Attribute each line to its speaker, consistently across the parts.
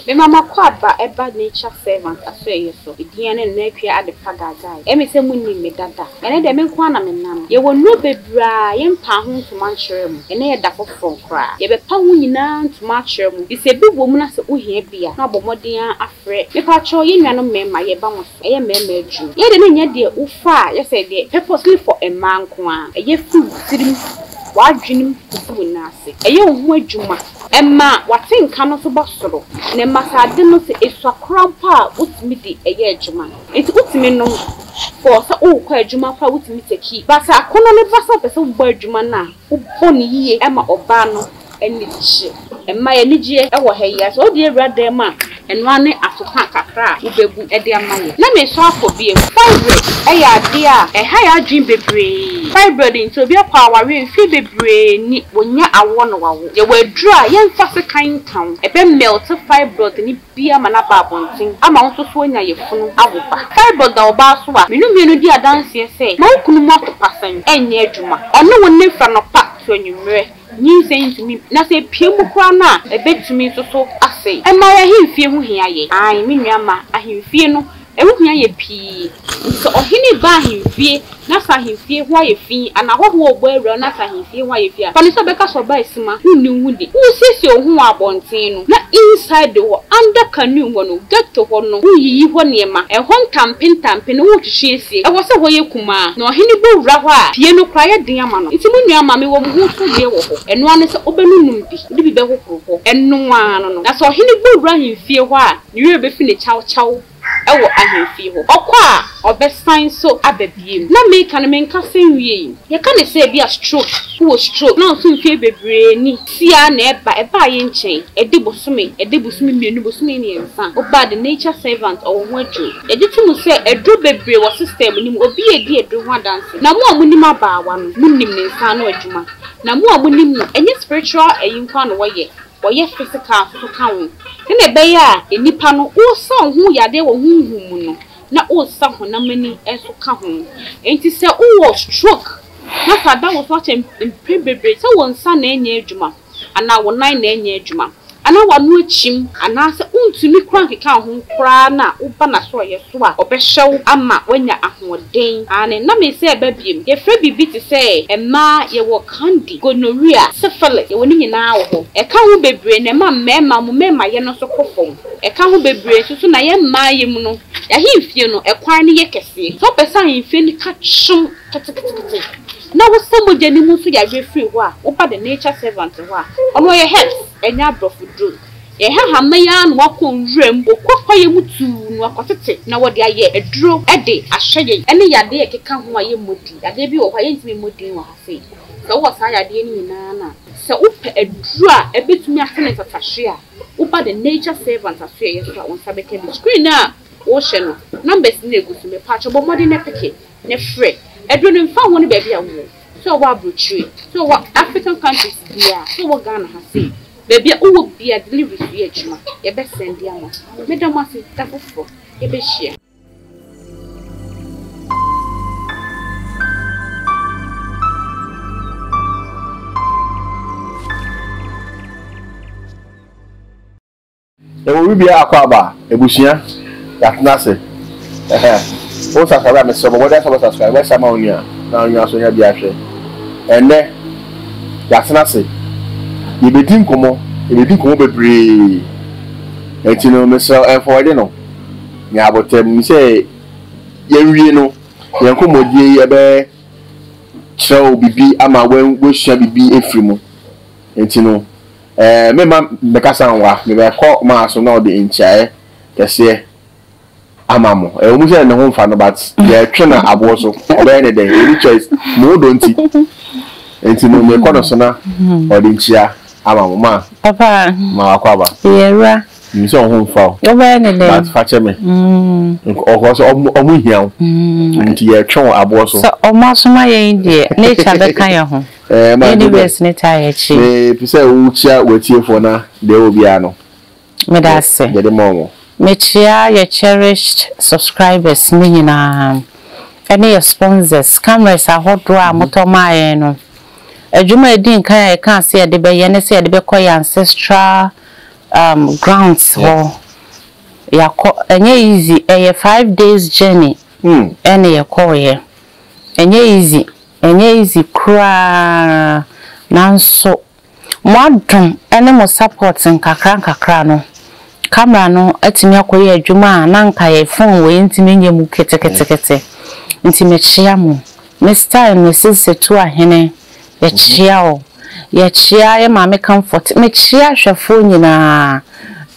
Speaker 1: Mema m'akɔa ba ɛba nature servant asoɛeɛ so, me din ne Nantwie Adepa Gaagai, ɛme sɛ monim me dada, ɛnɛ deɛ me nko ara na me nam, yɛwɔ nnuro bebree a yɛn mpaa ho ntoma nkyerɛ mo, ɛnɛ yɛda foforɔ koraa, yɛ bɛ pa ho nyinaa ntoma akyerɛ mo, fi sɛ ebi wɔ mu na sɛ wo hia bi a, na wabɔ mmɔden ara afrɛ, me pakyɛw yɛn nuanom mmarima yɛ ba mo so, ɛyɛ mmarima adwuma, yɛ deɛ na ɛnyɛ deɛ wo fa a yɛ sɛ deɛ purposely for mmaa nko ara, ɛyɛ firi wo tirim, w'adwenem kɔsi wo nan ase, ɛyɛ wo ho adwuma. Ɛma w'ate nka no so ba soro, na ɛma sɛ ade no sɛ esua koraa mpo a wotumi de ɛyɛ adwuma. Enti wotumi nom for sɛ worekɔ adwuma koraa a wotumi take. But sɛ akɔnnɔ no ba sɛ wopɛ sɛ wobɔ adwuma no a, wobɔ no yie ma ɔbaa no ani gye. Ɛma yɛ anigyeɛ wɔ ha yi ara. Sɛ wode awura dan mu a. Ɛno ara ne afeha kakra a wubebu de ama wɔn. Na meresan akɔ bio. Fibroid yɛ ade a ɛha yɛn adwene bebree. Fibroid nti, obi akɔ awareɛ mfeɛ bebree ni, wɔnya awoɔ na wɔawo. Yɛwɔ aduro a yɛmfa sekan nka ho, ɛbɛmɛlte fibroid no bi ama no aba abɔnten ama wo nso so woanya yafunu awo ba. Fibroid da ɔbaa so a, me ne mmienu di adanseɛ sɛ, ma wo kunu mu atopa sɛn ɛnyɛ adwuma. Ɔne wo nna firi anɔpa to anwummerɛ. Nyinsɛn ntumi na sɛ epue mu koraa no a ebetumi nso so asɛe. Ɛma ahemfie ho hia yɛ. Aane, me nua mma, ahemfie no, ɛho hia yɛ pii. Sɛ ɔhene reba ahemfie na sɛ ahemfie ho ayɛ fi anaa ahɔhoɔ rebɔ awura na sɛ ahemfie ho ayɛ fi a, fa no sɛ ɔbɛka sɛ ɔbaa asima, wonni wo ho di. Woresiesie wo ho wɔ abɔnten no, na inside hɔ, under canoe hɔ no, ghetto hɔ no, woreyiyi hɔ nneɛma, ɛhɔ ntampe ntampe no woretwetwe asie. Ɛwɔ sɛ hɔ yɛ kumm. nkumaa, na ɔhene bɔ wura hɔ a, fie no koraa yɛ den ama no. Enti mo nua, ma mewɔ mo ho sodwoeɛ wɔ hɔ, ɛno ara ne sɛ wobɛnonom bi, wode bi bɛhohoro hɔ, ɛno ara no no. Na sɛ ɔhene bɔ wura ahemfie hɔ a, ne werɛ bɛfi no kyawkyaw wɔ ahemfie hɔ. Ɔkɔ a, ɔbɛsan nso aba bio. Na meka no, menkasa nwiei. Yɛka no sɛ ebia stroke, wowɔ stroke, na nso mfeɛ bebree ni. Sia na ɛba, ɛbaa yɛn nkyɛn, ɛde bosome, ɛde bosome mmienu, bosome mmiɛnsa, ɔbaa the nature servant, ɔwɔ ho aduro. Yɛgye to mu sɛ aduro bebree wɔ system no mu, obi a edi aduro ho adanse, na mo a monim abaawa no, monim ne nsa ano adwuma, na mo a monim no, ɛnyɛ spiritual ayi nko ara na wɔyɛ, wɔyɛ physical nso ka ho, sɛnea ɛbɛyɛ a nnipa no, wosɔn ho yadeɛ wɔ honhom mu no, na wosa honam ani nso ka ho. Enti sɛ wowɔ stroke na sɛ ada wo so akyɛ mpɛn bebree sɛ wo nsa na ɛnyɛ adwuma anaa wo nan na ɛnyɛ adwuma anaa w'ano akyim anaasɛ wontumi kura nkeka wo ho koraa na woba n'asorɔeɛ so a, ɔbɛhyɛ wo ama woanya ahoɔden. Aane, na mese ɛba biom. Yɛfrɛ biribi te sɛ mmaa yɛwɔ candy, gonorrhea, syphilis, yɛwɔ ne nyinaa wɔ hɔ. Ɛka ho bebree na ɛma mmarima wɔn mmarimayɛ no nso kɔ fam. Ɛka ho bebree nso so na yɛn mmaeɛ mu no, yɛn ahemfie no, ɛkwan no yɛ kɛseɛ. Sɛ wopɛ sɛ ahemfie no ka kyom ketekete na wosa mogya no mu nso yareɛ firi hɔ a, woba the nature servant hɔ a, ɔno ɔyɛ herbs, ɛnyɛ aborɔfo duro. Yɛn hahama yi ara na wɔakɔ nwura mu, wɔkɔ kwaeɛ mu tuu na wɔakɔtete na wɔde ayɛ aduro de ahwɛ yɛn ne yadeɛ a ɛkeka ho a yɛmmɔ din. Yadeɛ bi wɔ hɔ a yɛntumi mmɔ din wɔ ha sei. Sɛ wowɔ saa yadeɛ no nyinaa no a, sɛ wopɛ aduro a ɛbɛtumi ahwɛ no ntatahweɛ a, Woba the nature servant asoɛeɛ so a wo nsa bɛka bi. Screen no a wohyɛ no numbers no na ɛgu so. Mepatwɔ bɔ mmɔden na peke na frɛ. Aduro no mfa ho ne baabi a wowɔ. Sɛ wowɔ abrokyire, sɛ wowɔ African countries biara, sɛ wowɔ Ghana ha sei, baabi a wowɔ biara delivery so yɛ adwuma. Yɛbɛ sɛnde ama wo. Meda mo ase da foforɔ yɛbɛhyia.
Speaker 2: Yɛwɔ wibea akwaaba ebusua yɛatena ase ɛhɛ wo subscribe a mesrɛ bɔbɔde asɛ subscribe wɛhyɛ ama wo nua na onua so nya bi ahwɛ ɛnɛ yɛatena ase yɛbɛdi nkɔmmɔ yɛbɛdi nkɔmmɔ bebree ɛnti no mesrɛ ɛmfɔwɛde no me aboterɛ mu sɛ yɛnwie no yɛn nkɔmmɔdie yi bɛkyerɛw biribi ama woasua biribi afiri mu. Enti no, meremma mɛkasa nwa, mebɛkɔ maa so na ɔde nkyeaeɛ kɛseɛ ama mo. Ɛwɔ mu sɛ ne ho mfa no but yɛretwe no aboɔ so, ɔbɛyɛ ne dɛn? Ɔnni choice, mo dɔ nti. Enti no, mekɔ ne so na ɔde nkyea ama mo. Ma ma
Speaker 3: wakɔ aba.
Speaker 2: Yɛwura, Minim
Speaker 3: sɛ wɔn ho mfa
Speaker 2: wo. Wobɛyɛ no dɛn? But fa
Speaker 3: kyɛ me.
Speaker 2: Ɔkɔɔ sɛ wɔn ho hia wo, nti yɛretwe wɔn aboɔ so. Sɛ wɔasoma yɛn
Speaker 3: deɛ, nature bɛka yɛn ho. Universe
Speaker 2: no taa yɛ
Speaker 3: akyire. Mepɛ sɛ wokyia
Speaker 2: w'atiefoɔ na deɛ ɛwɔ biara no, Meda ase.
Speaker 3: yɛde ma wɔn.
Speaker 2: Mekyia
Speaker 3: yɛ cherished subscribers no nyinaa, ɛne yɛ sponsors, cameras ahodoɔ a motɔ maa yɛn no. Adwuma a ɛdi nkan a yɛkaa sɛ yɛde bɛyɛ ne sɛ yɛde bɛkɔ yɛn ancestral um grounds hɔ yakɔ ɛnyɛ easy ɛyɛ five days journey hmm. ɛna yɛkɔɔ yɛ ɛnyɛ easy ɛnyɛ easy koraa nanso mo adom ɛne mo support nkakra nkakra no camera no atumi akɔyɛ adwuma a na nka yɛ phone wɔ yɛntumi nyɛ mu ketekete nti mekyea mo ne style ne sisi to ahene Yɛkyea wo. Yɛkyea yɛ Maame Comfort. Mekyea ahwɛfoɔ nyinaa.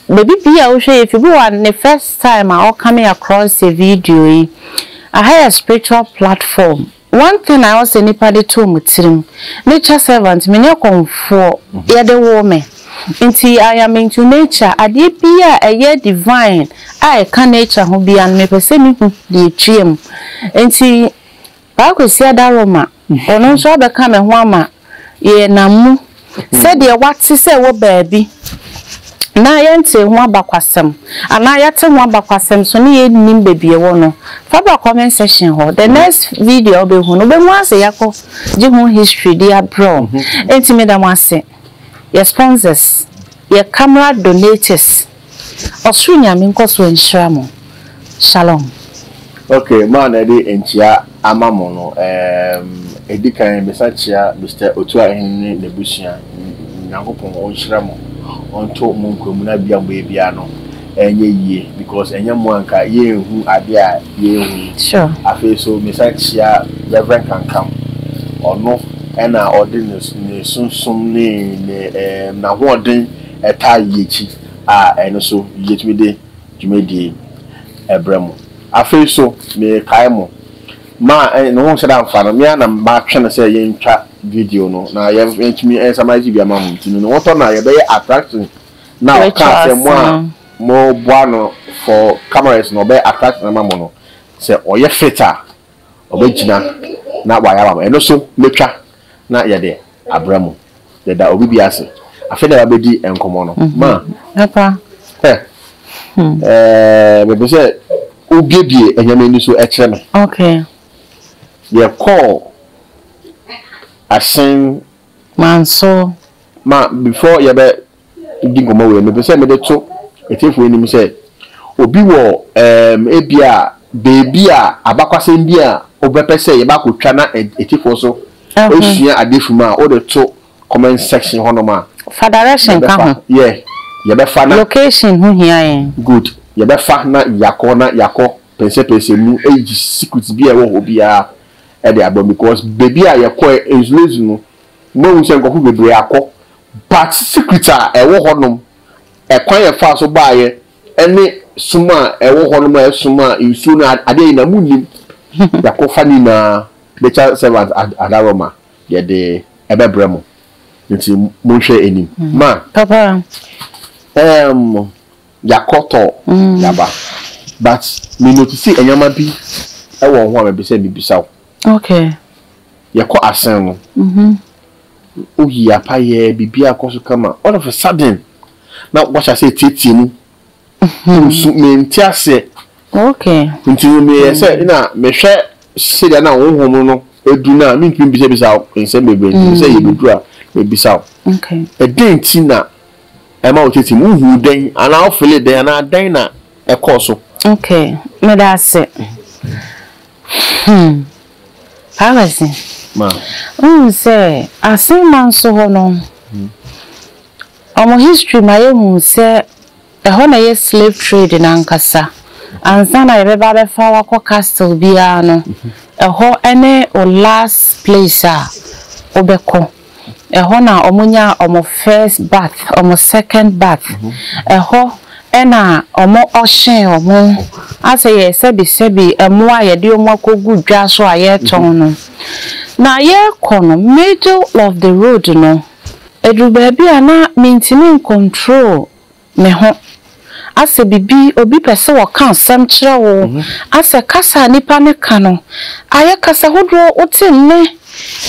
Speaker 3: Baabi biara a wohwɛ yɛ firi, bi wɔ hɔ a ne first time a ɔ coming across yɛ video yi. Aha yɛ spiritual platform. One thing a ɛwɔ sɛ nnipa de to wɔn tirim, nature servant, menyɛ kɔmfoɔ, yɛde woo me, nti I am into nature, adeɛ biara a ɛyɛ divine a ɛka nature ho biara no mepɛ sɛ mehu deɛ ɛtwea mu. Nti. Paa Kwasiada Roma, ɔno nso abɛka ne ho ama yɛnam mu sɛdeɛ wate sɛ ɛwɔ baabi na yɛntee ho abakwasɛm anaa yɛate ho abakwasɛm nso na yɛnnim baabi ɛwɔ no, fa bra comment section hɔ, the next video a wobɛhu no wobɛhu ara sɛ yɛakɔ gye ho history de abrɛ wo. Enti meda mo ase, yɛ sponsors, yɛ camera donators. Ɔsoro Nyame nkɔ so nhyira mo. Shalom. Ok
Speaker 2: maa na ɛde nkyia ama mo no ɛɛm ɛdi kan mesan kyia Mister Otuahen ne n'abusua Nyankopɔn ɔnhyira mo ɔnto mo nkwamuna bia mo ɛbi ano ɛnyɛ yie because ɛnyɛ mo anka yɛnhu adeɛ a yɛhu yi sure afei so
Speaker 3: mesan
Speaker 2: kyia Rev Kankam ɔno ɛna ɔde ne ne sunsum ne ne ɛɛm n'ahoɔden ɛtaa yi akyi a, ɛno nso yetumi de dwumadie brɛ mo. Afei nso mekae mo, ma ne ho nhyɛ da mfa no, me ara na matwe no sɛ yɛntwa video no na yɛatumi summarize bi ama mo nti no, ne ho tɔ no a yɛbɛyɛ attraction no a ɔkaa sɛ mo a moboa no for cameras no ɔbɛyɛ attraction ama mo no, sɛ ɔyɛ fit a. ɔbɛgyina na wayɛ ama me. Ɛno so mɛtwa na yɛde abra mu. Yɛda obi bi ase. Afei na yɛabɛdi nkɔmmɔ no. Ma. Papa.
Speaker 3: Hɛ. Hmm. Ɛɛ
Speaker 2: mepɛ sɛ wobiebie anyame ani so ɛkyerɛ me. Okay. Yɛkɔɔ asen. Manso.
Speaker 3: Ma
Speaker 2: before yɛbɛ di nkɔmmɔ wei, mepɛ sɛ mede to atiefo anim sɛ, obi wɔ ɛɛm ebia baabi a abakwasɛm bi a wobɛpɛ sɛ yɛba akɔtwa na atiefo so sua adeɛ fi mu a, wode to comment section hɔnom a. Fa direction ka
Speaker 3: ho. Yɛ, yɛbɛfa
Speaker 2: na. Location ho hia
Speaker 3: yɛn. Good, yɛbɛfa
Speaker 2: na yɛakɔ na yɛakɔ pɛnsɛpɛnsɛ mu ayi secrets bi a ɛwɔ hɔ biara de aba mu because baabi a yɛkɔɛ, Nzulezu no, Mahu sɛ nkurɔfo bebree akɔ, but secret a ɛwɔ hɔnom, ɛkwan a ɛfaa so baeɛ, ɛne som a ɛwɔ hɔnom a ɛsom a nsuo no adeɛ nyinaa monnim. Yɛakɔfa ne nyinaa, nature servant Adaroma yɛde ɛbɛbrɛ mo, nti monhwɛ anim. Ma,
Speaker 3: ɛɛm,
Speaker 2: yɛakɔ tɔ, yɛaba, but me notice nneɛma bi wɔ ho a mepɛ sɛ mebisa wo. Okay.
Speaker 3: Yɛkɔ
Speaker 2: asen no. Mhm. Woyi apa yɛ biribiara kɔ so kama. All of a sudden na wahyɛ ase tietie mu. Nso mente aseɛ. Okay.
Speaker 3: Nti no meyɛ
Speaker 2: sɛ mm. na mehwɛ sɛdeɛ na honhom no edu na mentumi bisabisa nsɛm bebree nti sɛ mm. yɛbɛduru a mebisa wo. Okay. Ɛdɛn
Speaker 3: nti na
Speaker 2: ɛma wo tietie mu wohu dɛn anaa wofele dɛn anaa dɛn na ɛkɔɔ so. Okay.
Speaker 3: Meda ase. Hmm. Palace.
Speaker 2: Ma. Wohu sɛ
Speaker 3: Asenma nso hɔ no, wɔn history ma yɛhu sɛ ɛhɔ na ɛyɛ slave trade no ankasa. Ansa na yɛbɛba abɛfa wo akɔ castle biara no, ɛhɔ ne wo last place a wobɛkɔ. Ɛhɔ na wɔnyaa wɔn first birth, wɔn second birth. Ɛhɔ na wɔhyee wɔn. Asɛ yɛn sɛbisɛbi mmoa a yɛde wɔn akɔgu dwa so a yɛretɔn no. Na yɛrekɔ no, middle of the road no, ɛduru baabi a na mentumi ncontrol. Me ho. Asɛ biribi, obi pɛ sɛ ɔka asɛm kyerɛ wo, asɛ kasa a nnipa no ka no, ayɛ kasa hodoɔ, wote nne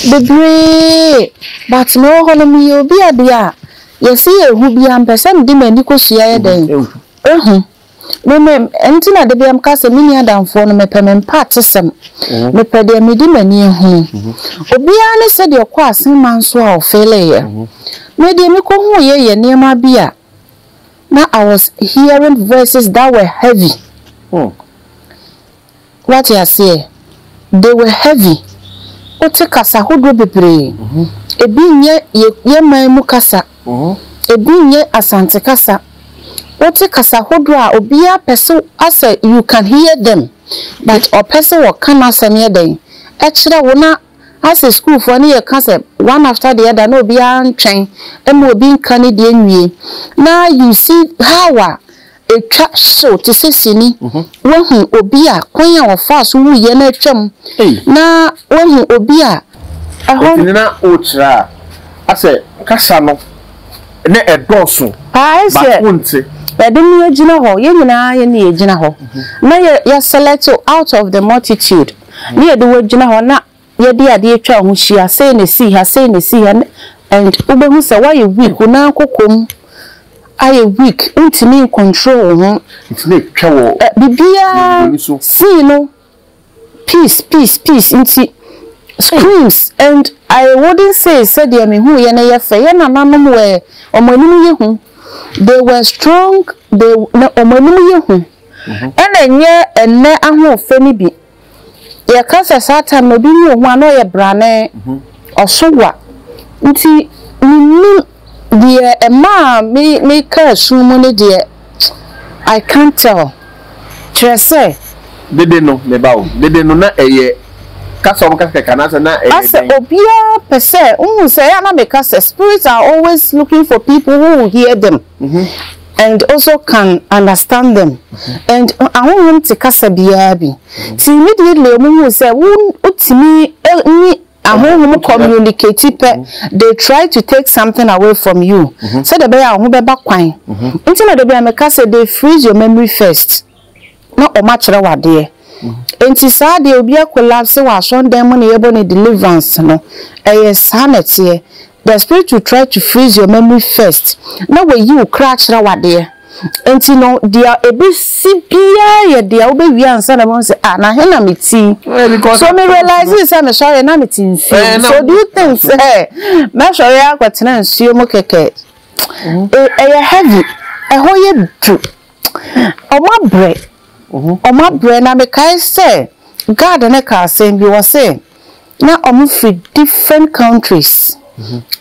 Speaker 3: bebree, but me wɔ hɔ no, meyɛ obi a deɛ a yɛse yɛhu biara, mpɛ sɛ mede m'ani kɔhyia yɛ dɛn? Ɛhu. Me, me, ɛno nti na dabiara meka sɛ, menni adamfoɔ no, mepɛ me mpaatesɛm, mepɛ deɛ mede m'ani ahunu. Obiara ne sɛdeɛ ɔkɔ asen ma nso a ɔfeeleeɛ. Na deɛ mekohuuiɛ yɛ nneɛma bi a na I was hearing voices that were heavy, wate aseɛ, they were heavy, wote kasa hodoɔ bebree, ebi nyɛ yɛn man mu kasa, ebi nyɛ Asante kasa, wote kasa hodoɔ a obiara pɛ sɛ asɛ you can hear them but ɔpɛ sɛ ɔka n'asɛm yɛ dɛn, ɛkyerɛ wo na Ase sukuufoɔ no yɛ ka sɛ one after the other na obiara ntwɛn mma obi nka ne deɛ nwie na you see how a ɛtwa hyew te sɛ sini, woahu obi a kwan a ɔfaa so wuiɛ no atwam na woahu obi a ɛhɔ. Enti na
Speaker 2: wokyerɛ a asɛ kasa no na ɛdɔɔso but
Speaker 3: wonte. Yɛde me agyina hɔ, yɛn nyinaa yɛne yɛgyina hɔ na yɛ select out of the multitude. na yɛde wo agyina hɔ na yɛde adeɛ atwa wo ho hyia, sei na ɛsii ha, sei na ɛsii ha, and wobɛhu sɛ woayɛ weak, wo nan kokom ayɛ weak, wontumi ncontrol wo ho. Ntumi twa wɔ.
Speaker 2: Eh, biribiara
Speaker 3: sii no peace peace peace nti screams and I wouldn't say sɛdeɛ mehu yɛ no yɛ fɛ yɛ nananom were wɔn anim yɛ hu they were strong they wɔn anim yɛ hu. Ɛna ɛnyɛ ɛnnɛ ahoɔfɛ no bi. Yɛka sɛ saa time no obi ne ohu a na ɔyɛ brane, ɔso wa. Nti mennim deɛ ɛmaa me mekaa su mu no deɛ I can't tell. Kyerɛ sɛ. Dede
Speaker 2: no me ba o, dede no na ɛyɛ kasa a wɔka kɛkɛ anaasɛ na ɛyɛ dɛn? Asɛ obiara
Speaker 3: pɛ sɛ, wohu sɛ ɛyɛ a na meka sɛ spirits are always looking for people who will hear them. And also can understand them and ahonhom te kasa biara bi nti immediately wɔn hu sɛ wo wotumi ne ahonhom communicate pɛ they try to take something away from you sɛdeɛ ɛbɛyɛ a wo ho bɛba kwan nti na da bi a meka sɛ they freeze your memory first. na ɔma kyerɛw adeɛ nti saa deɛ obi akolapse wɔ asɔndan mu na yɛbɔ no deliverance no ɛyɛ saa na ɛteɛ the spirit will try to freeze your memory first na wayi wo kra akyerɛw adeɛ nti no deɛ ɛbɛsi biara yɛ deɛ wobɛwie ansa na bɛhu sɛ ah na he na meti so me realize sɛ mesɔre na mete nsuo so do you think sɛ mɛsɔre akɔtena nsuo mu kɛkɛ ɛyɛ heavy ɛhɔ yɛ du Wɔabrɛ. Wɔabrɛ. Na mekae sɛ guard no kaa asɛm bi, ɔse na wɔfiri different countries,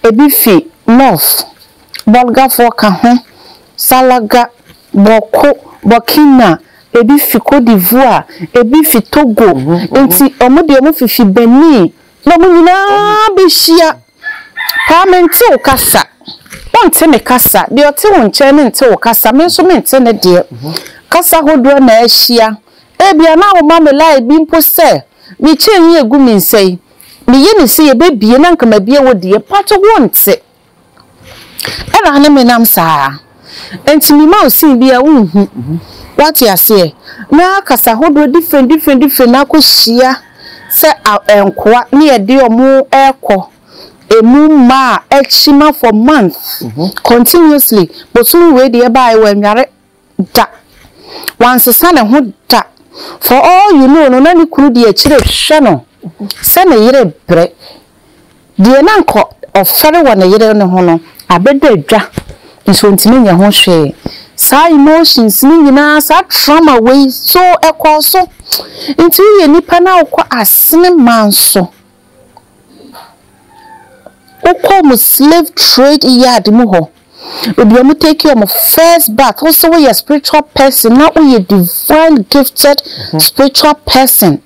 Speaker 3: ɛbi fi North, Bolgafoɔ ka ho, Salaga, Bawku, Burkina, ɛbi fi Cote d'Ivoire, ɛbi fi Togo, nti wɔn deɛ wɔfifi Benin, na wɔn nyinaa bɛhyia. Paa mente wo kasa, wonte me kasa, deɛ ɔte wo nkyɛn no nte wo kasa, me nso mente ne deɛ. Kasa hodoɔ na ahyia, ebia na woma me lie bi mpo sɛ me chain yi egu me nsa yi, meyɛ no sɛ yɛbɛbie na anka mabie wo deɛ but wonte. Ɛna ne menam saa. Enti mema wo sin bi a wonhu. Woate aseɛ? Na kasa hodoɔ different different different no akɔhyia sɛ nkoa ne yɛde wɔn rekɔ ɛmu mma a akyima for month continuously. Bosome wei deɛ ɛbaeɛ wannware da, wansesa ne ho da. For all you know no na ne kunu de akyire rehwɛ no sɛ ne yere rebrɛ. Deɛ na anka ɔfɛre wɔ ne yere no ho no abɛda adwa nso ɔntumi nyɛ ho hwee. Saa emotions no nyinaa, saa trauma wei so ɛkɔɔ so. Nti woyɛ nipa na wokɔ asene man so, wokɔ wɔn slave trade yard mu hɔ, Baabi a wɔn take wɔn first bath, wo sɛ woyɛ spiritual person na woyɛ divine gifted mhm. spiritual person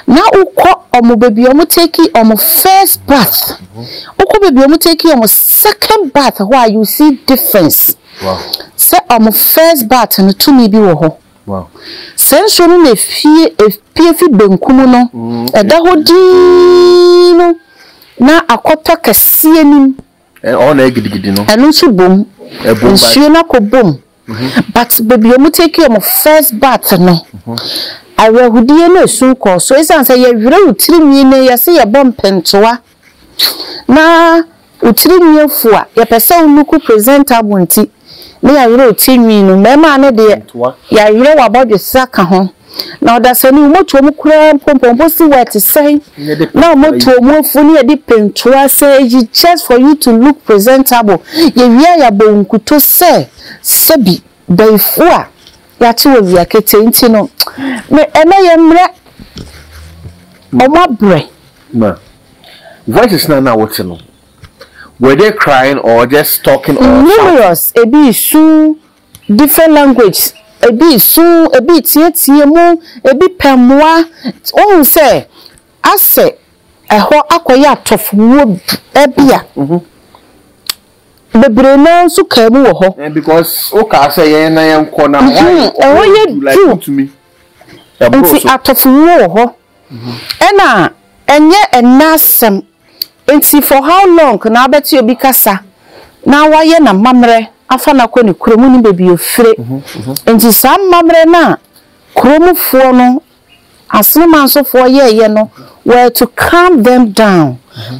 Speaker 3: na wokɔ wɔn baabi a wɔn take wɔn first bath, mhm. wokɔ baabi a wɔn take wɔn second bath hɔ a you see difference. Sɛ wɔn first bath no tumi bi wɔ hɔ. Sɛ nsuo no na efie efie fi benkum no mm, ɛda hɔ dii no na akɔtɔ kɛseɛ nim.
Speaker 2: Ɛno nso bom,
Speaker 3: nsuo no akɔ bom but baabi a wɔtake wɔn first bath no, awerɛhodie ne esu kɔɔ so ɛsiane sɛ yɛwerɛ wo tirinwi no yɛse yɛbɔ mpentewa na wo tirinwi afu a yɛpɛ sɛ wo look presentable nti. ne yɛawerɛw ti nwi no, mmarimaa no deɛ, yɛawerɛw w'abɔdwesɛ ka ho. Na ɔdasani, wo mmɔtoa mu koraa mpo, mpɔmpɔ si hɔ a, ɛte sɛn na wo mmɔtoa mu afu ne yɛde pentoa sɛ eyi just for you to look presentable, yɛwie a yɛabɔ wo nkutoo sɛ sɛbi bayifu a yɛate wɔ awia ketee nti no, me, ɛnnɛ yɛmmrɛ wɔn abrɛ. Na
Speaker 2: voices no a na wote no, Numerous ebi resu
Speaker 3: different languages ebi resu ebi reteatea mu ebi pɛ mmoa wohu sɛ asɛ ɛhɔ akɔyɛ atɔfowuo bi a bebree no ara nso kaa mu wɔ hɔ
Speaker 2: ɛhɔ yɛ
Speaker 3: duru nti atɔfowuo wɔ hɔ ɛna ɛnyɛ ɛnnɛ asɛm Enti for how long na wobɛte obi kasa na wayɛ n'amammerɛ afa no akɔ ne kurom, wonnim baabi a ɔfire. Enti saa amammerɛ no a kuromfoɔ no, Asene mansofoɔ yɛeɛ no were to calm them down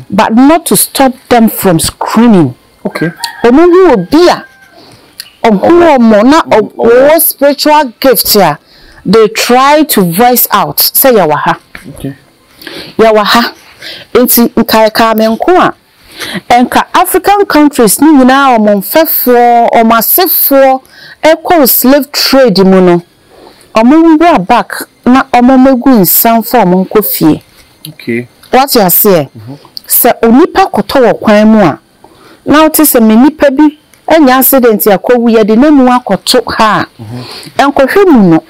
Speaker 3: but not to stop them from screaming.
Speaker 2: Wɔhu obi
Speaker 3: a ɔhu wɔn na ɔwɔ spiritual gift a, they try to voice out sɛ yɛwɔ ha.
Speaker 2: Yɛwɔ ha,
Speaker 3: enti nka yɛkaa me nko a, nka African countries no nyinaa a wɔn mfɛfoɔ, wɔn asefoɔ kɔɔ slave trade mu no, wɔmmra back na wɔmmɛgu nsa mfa wɔn nkɔ fie.
Speaker 2: Woate aseɛ?
Speaker 3: Sɛ onipa kɔtɔ wɔ kwan mu a, na wote sɛ me nipa bi anya accident akɔwu, yɛde no amu akɔto ha a, nkɔhwɛ mu no,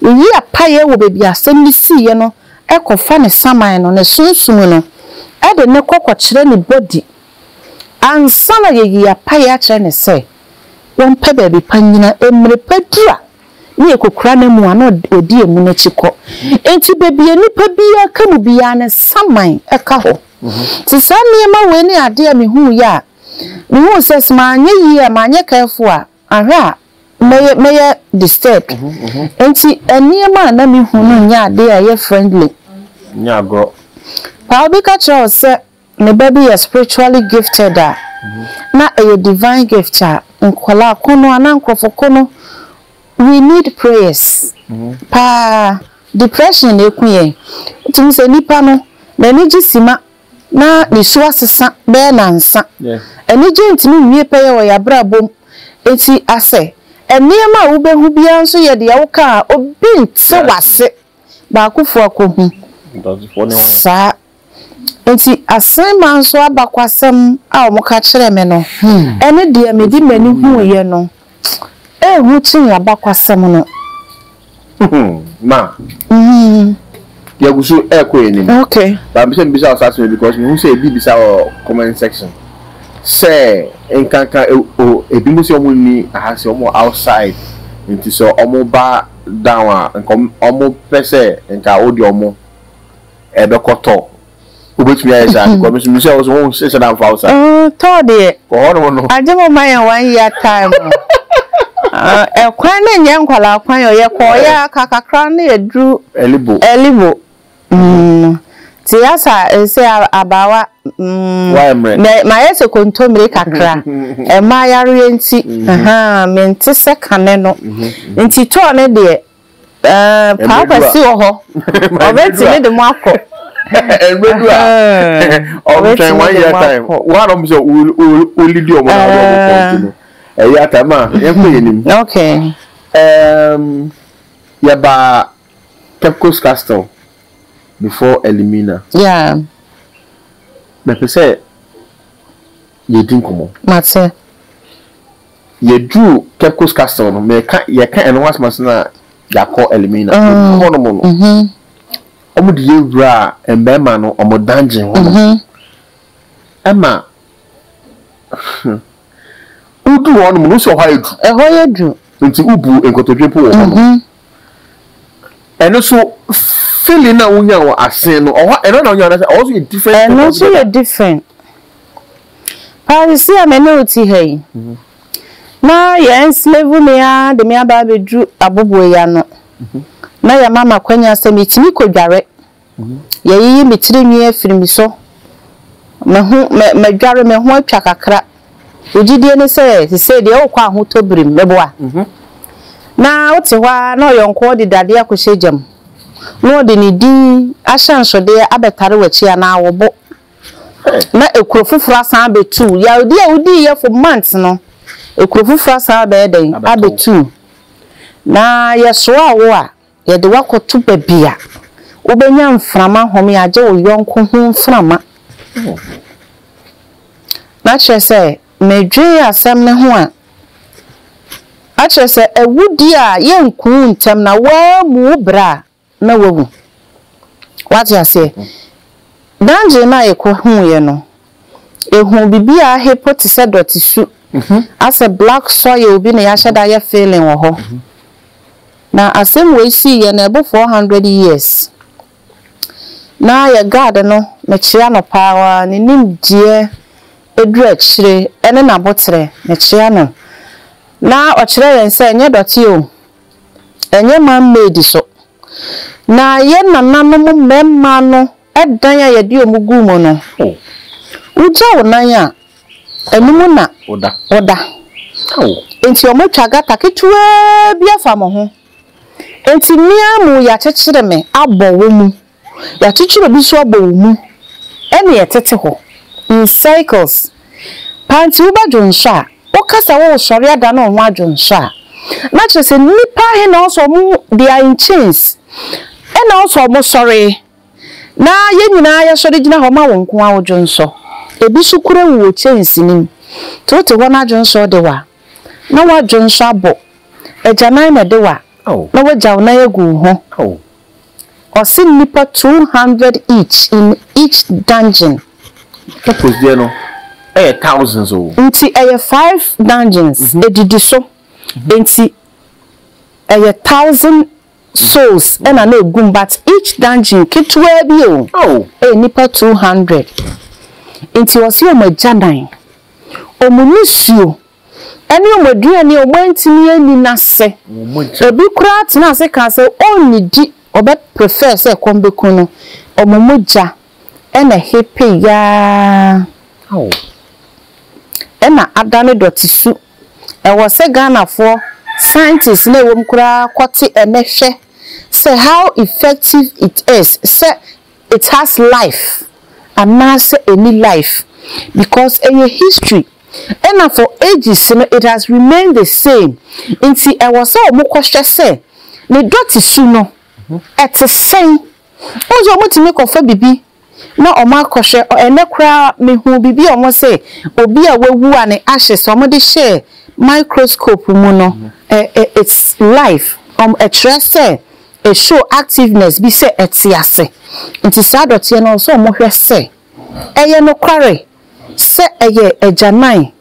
Speaker 3: yɛyi apaeɛ wɔ baabi a asɛm no siiɛ no kɔfa ne saman no, ne sunsum no, de no kɔ kɔkyerɛ ne body ansa na yɛayi apaeɛ akyerɛ no sɛ ɔmpɛ baabi pa nnyina. Mmerɛ pa du a, na yɛkɔkura no amu a, na ɔdi amu no akyi kɔ. Enti baabi a nipa biara ka mu biara no, saman ka hɔ. Te saa nneɛma wei ne adeɛ a mehuuiɛ a, mehuu sɛ sɛ manyɛ yie a, manyɛ careful a, ahwɛ a mɛyɛ mɛyɛ disturbed. Enti nneɛma a na mehu no nyɛ adeɛ a ɛyɛ friendly. Nyɛ agorɔ.
Speaker 2: Paa obi ka
Speaker 3: kyerɛ wo sɛ ne ba bi yɛ spiritually gifted a, na ɛyɛ divine gift a nkwadaa ko no anaa nkorɔfo ko no, We need prayers paa depression na eku yɛn wotuhu sɛ nipa no nanigye sima na ne su asesa bɛyɛ nansa anigye ntumi nwie pɛyɛ wɔ yabrabom nti asɛ nneɛma a wobehu biara nso yɛ deɛ woka a obi nte wase baakofo akohu saa. Enti Asenman so abakwasɛm a wɔka kyerɛɛ me no ne deɛ mede m'ani huiɛ no hu kyene abakwasɛm no. Ma,
Speaker 2: yɛgu so rekɔ yɛn anim. Okay. But mepɛ sɛ
Speaker 3: mebisa wo saa
Speaker 2: asɛm yi because mehu sɛ ebi bisa wɔ comment section sɛ nkanka o ebinom sɛ wɔn nni aha sɛ wɔn outside nti sɛ wɔn ba down a nka wɔn pɛ sɛ nka wode wɔn ɛbɛkɔ tɔ wobɛtumi ayɛ saa because mesu mesɛ wo so wo sɛ na mfa wo sa tɔ deɛ wɔ hɔ
Speaker 3: nom no agye mo
Speaker 2: ma yɛ one
Speaker 3: year time ɛkwan no nyɛ nkwalaa kwan ɔ yɛkɔɔ yɛ aka kakra no yɛduru ɛlibo ɛlibo nti yɛasa sɛ abaawa mayɛ sɛ kontommire kakra ɛma yareɛ nti mente sɛ kane no nti tɔɔ no deɛ Ɛɛ, Paa Kwasi wɔ hɔ, ɔbɛtumi de mo akɔ. Ɛmɛ du
Speaker 2: a, ɔbɛtwɛn one year time. Wɔn a na wɔn sɛ olidi wɔn na wɔn kɔ nti no, ɛyɛ ata ma yɛn kɔ yɛn nim. Okay.
Speaker 3: Ɛɛm,
Speaker 2: yɛba Pepco's Castle before Elimina. Yeah. Mɛpɛ sɛ yɛdi nkɔmɔ. Mate. Yɛduruu Caicos Castle no, meka, yɛka ɛno ho asɛm ansa na yɛakɔ Elmina. Yɛduruu hɔnom no, wɔde yɛn wuraa mmarima no wɔn dungeon hɔnom. Ɛma, hmm, woduu hɔnom no, wosi hɔ ayɛ duru. Ɛhɔ yɛ duru. Nti wobu nkotodwe mpo wɔ hɔnom. Ɛno so feeling na wonya wɔ asen no ɔhɔ ɛno na wonya anasɛ ɔhɔ so yɛ different thing altogether? Ɛno so yɛ different.
Speaker 3: Paa sisi a me ne wo te ha yi, na yɛ enslave me ara de me aba abɛduru aboboeya no, na yɛ ama me akwanya sɛ metumi kɔ dware Yɛayiyi me tiri nwi afiri me so. Me ho, me, madware, me ho atwa kakra. Wo gyidie ne sɛ, sesei deɛ wokɔ ahotɔ birim, meboa? Na wote hɔ ara na ɔyɔnkoɔ de dadeɛ akɔhyɛ gya mu, na ɔde ne din ahyɛnsodeɛ abɛtare w'akyi anaa wo bo, na ekuro foforɔ asan abɛtu wo. Yaredeɛ a wodiiɛ for months no, ekuro foforɔ asan abɛyɛ dɛn? Abɛto wo. Na yɛsoaa wo a, Yɛde wo akɔto baabi a wobɛnya mframa home agye wo yɔnko ho mframa. Na kyerɛ sɛ, medwen asɛm no ho a, na kyerɛ sɛ awudie a yɛnku wo ntɛm na woammu wo berɛ a, na woawu. Woate aseɛ? Dangye no a yɛkɔhuuiɛ no, Ehun bibi a ahe po te sɛ dɔte su asɛ black soil bi na yɛahyɛ da ayɛ filling wɔ hɔ. Na asɛm wei sii yɛ no ɛbo four hundred years. Na yɛ guard no mekyea no paa ara ne nimdeɛ aduru akyire ɛne n'aboterɛ mekyea no. Na ɔkyerɛ yɛn sɛ ɛnyɛ dɔte o, ɛnyɛ man made so. Na yɛn nananom mmarima no Dan a yɛde wɔn gu mu no, wogya wo nan a, ɛno mu na woda. Enti wɔatwa gata ketewaa bi afa mo ho. Enti me ara mu yɛakyekyere me abɔ wo mu. Yɛakyekyere obi nso abɔ wo mu. Ɛnna ɛtete hɔ in circles. Paa nti woba dwonsɔ a, woka sɛ woresɔre adane wo ho adwonsɔ a, na kyerɛ sɛ nnipa ahe na ɔwɔ sɛ wɔde in chains na ɔwɔ sɛ wɔsɔre. Na yɛn nyinaa yɛ sɔre gyina hɔ ma wo nko ara wo dwonsɔ. Ebi so kura wu wɔ kyɛnse no mu. To wote hɔ na dwonsɔ de wa. Na wa dwonsɔ abɔ. Agyanan na ɛde wa. Na wa gyaw nan agu wo ho. Ɔse nnipa two hundred each in each dungeon. Purpose
Speaker 2: deɛ no ɛyɛ thousands o. Nti ɛyɛ five
Speaker 3: dungeons ɛdidi so. Nti ɛyɛ thousand souls na na egum but each dungeon ketewaa bi o ɛyɛ nnipa two hundred nti ɔse wɔn agyanan wɔn nisuo ɛne wɔn aduane a wɔn antumi anni no ase ebi koraa tena ase kaa sɛ ɔnnidi ɔbɛ prefer sɛ ɛkɔm bɛku no wɔn mogya ɛna hepe yaa ɛna adane dɔte su Ɛwɔ sɛ Ghanafoɔ scientists na ɛwom koraa kɔte ɛnɛ hwɛ sɛ how effective it is sɛ it has life anaasɛ ɛnni life because ɛyɛ history ɛna for ages no it has remained the same nti ɛwɔ sɛ wɔn kɔhwɛ sɛ ne dɔte su no ɛte sɛn. Wohu sɛ wɔtumi kɔfa biribi. na ɔmo akɔhwɛ ɛnɛ koraa mehuu biribi a ɔmo se obi a wawu a ne ashes ɔmo de hyɛɛ microscope mu no it's life ɔmo ɛkyerɛ sɛ e show activeness bi sɛ ɛte ase nti saa dɔteɛ no ɔwɔ sɛ ɔmo hwɛ sɛ ɛyɛ nokware sɛ ɛyɛ agyanan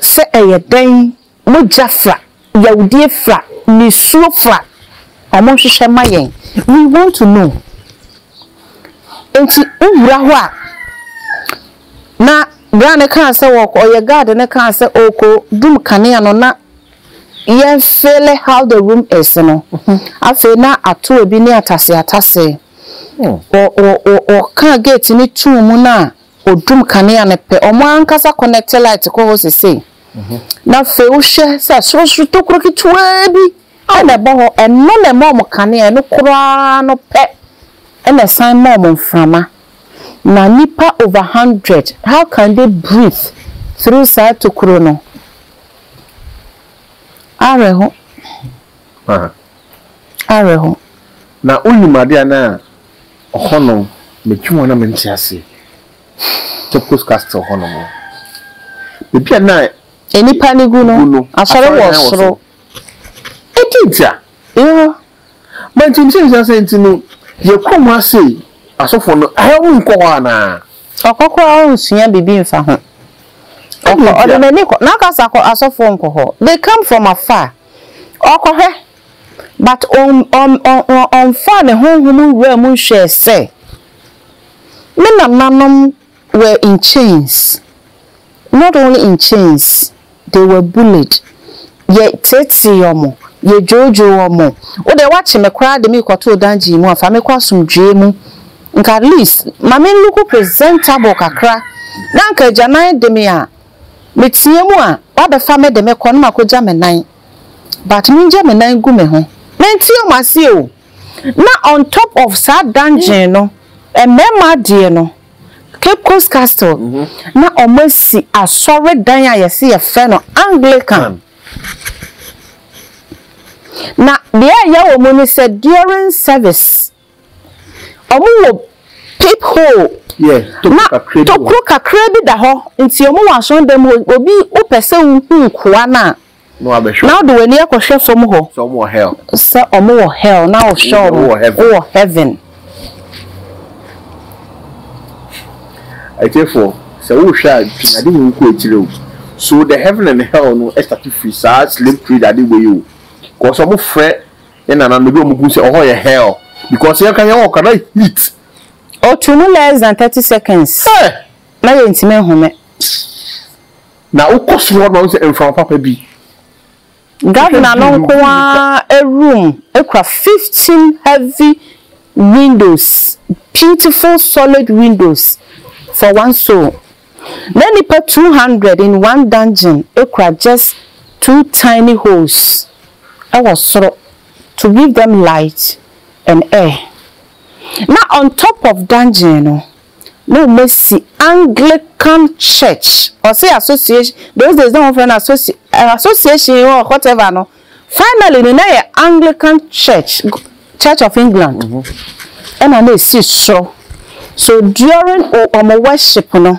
Speaker 3: sɛ ɛyɛ dɛn Mogya fra, yawdie fra, nisuo fra, ɔmo nhwehwɛ ma yɛn, we want to know. Nti wo wura hɔ a, na bra no kaa sɛ ɔɔkɔ, ɔyɛ guard no kaa sɛ ɔɔkɔ dum kanea no na yɛn feele how the room is no, afei na atoa bi ne atasee atasee. Ɔ, ɔ, ɔ, ɔkaa gate no too mu na ɔdum kanea no pɛ, ɔmo ankasa connect light kɔ hɔ sesei. Na afei wohwɛ sɛ sorosoro tokuro ketewaa bi na ɛbɔ hɔ, ɛno na ɛma wɔn kanea, ɛno koraa no pɛ na ɛsan ma wɔn mframa. Na nnipa over hundred, how can they breathe through saa tokuro no? Awerɛho. Ah.
Speaker 2: Awerɛho. Na wonim adeɛ anaa ɔhɔnom metwe wɔn na mente aseɛ. Capus Castle hɔ nom. Baabi a na. Nnipa no gu
Speaker 3: no, asɔre wɔ soro. Enti
Speaker 2: nti a. Yɛwɔ. Ma nti nti nti asɛ nti no, yɛ kurom ha sei, asɔfo no, ɛhɛ wo nkɔ hɔ anaa? Ɔkɔ koraa ɔnsua biribi
Speaker 3: mfa ho. Ɔkɔ, ɔde n'ani kɔ, n'akasa kɔ, asɔfo nkɔ hɔ. They come from afar. Ɔkɔhwɛ, but ɔn, ɔn, ɔn, ɔn, ɔnfaa ne honhom nwuraa mu nhwɛɛ sɛ. Me nananom were in chains, not only in chains, they were bullied, yɛ teetee ɔmo, yɛ dwoodwoo ɔmo, wo deɛ woakye me koraa de me rekɔto dungeon mu a fa me kɔ asomdwoeɛ mu, nka at least ma me nluku presentable kakra na anka agyanan de me a me tea mu a wabɛfa me de me kɔ na makɔgya me nan but mengya me nan gu me ho. Mente ɔmo aseɛ o. na on top of saa dungeon no mmarima adeɛ no Cape Coast Castle mhm. na wɔn asi asɔredan a yɛsi yɛfrɛ no Anglican na deɛ ɛyɛ wɔn mu no sɛ during service wɔn wɔ peep hole na tokuro kakra bi da hɔ nti wɔn wɔ asɔredan mu obi wopɛ sɛ wohu nkoa no a. Na wode w'ani akɔhwɛ fam hɔ sɛ wɔwɔ
Speaker 2: hell
Speaker 3: na wohwɛ wɔn wowɔ heaven.
Speaker 2: Atiefoɔ, sɛ wohwɛ a twɛn ade wei kɔ akyire o. So the heaven and hell no starte firi saa slave trade ade wei o. Because wɔn frɛ yɛn nananom ebi a wɔn gu sɛ ɔhɔ yɛ hell because yɛn ka yɛn wɔ kra heat. Ɔtu mu
Speaker 3: less than thirty seconds na yɛntumi nhome.
Speaker 2: Na wokɔ soro hɔ no ma wohu sɛ mframa papa bi.
Speaker 3: Governor no nko ara room kura fifteen heavy windows, beautiful solid windows for one soul. Na nnipa two hundred in one dungeon kura just two tiny holes wɔ soro to give them light and air. Na on top of dungeon no. na wɔn asi Anglican church ɔse association those days na wɔn frɛ no associ association or whatever no finally no na yɛ Anglican church church of England ɛna na esi soro so during wɔn worship no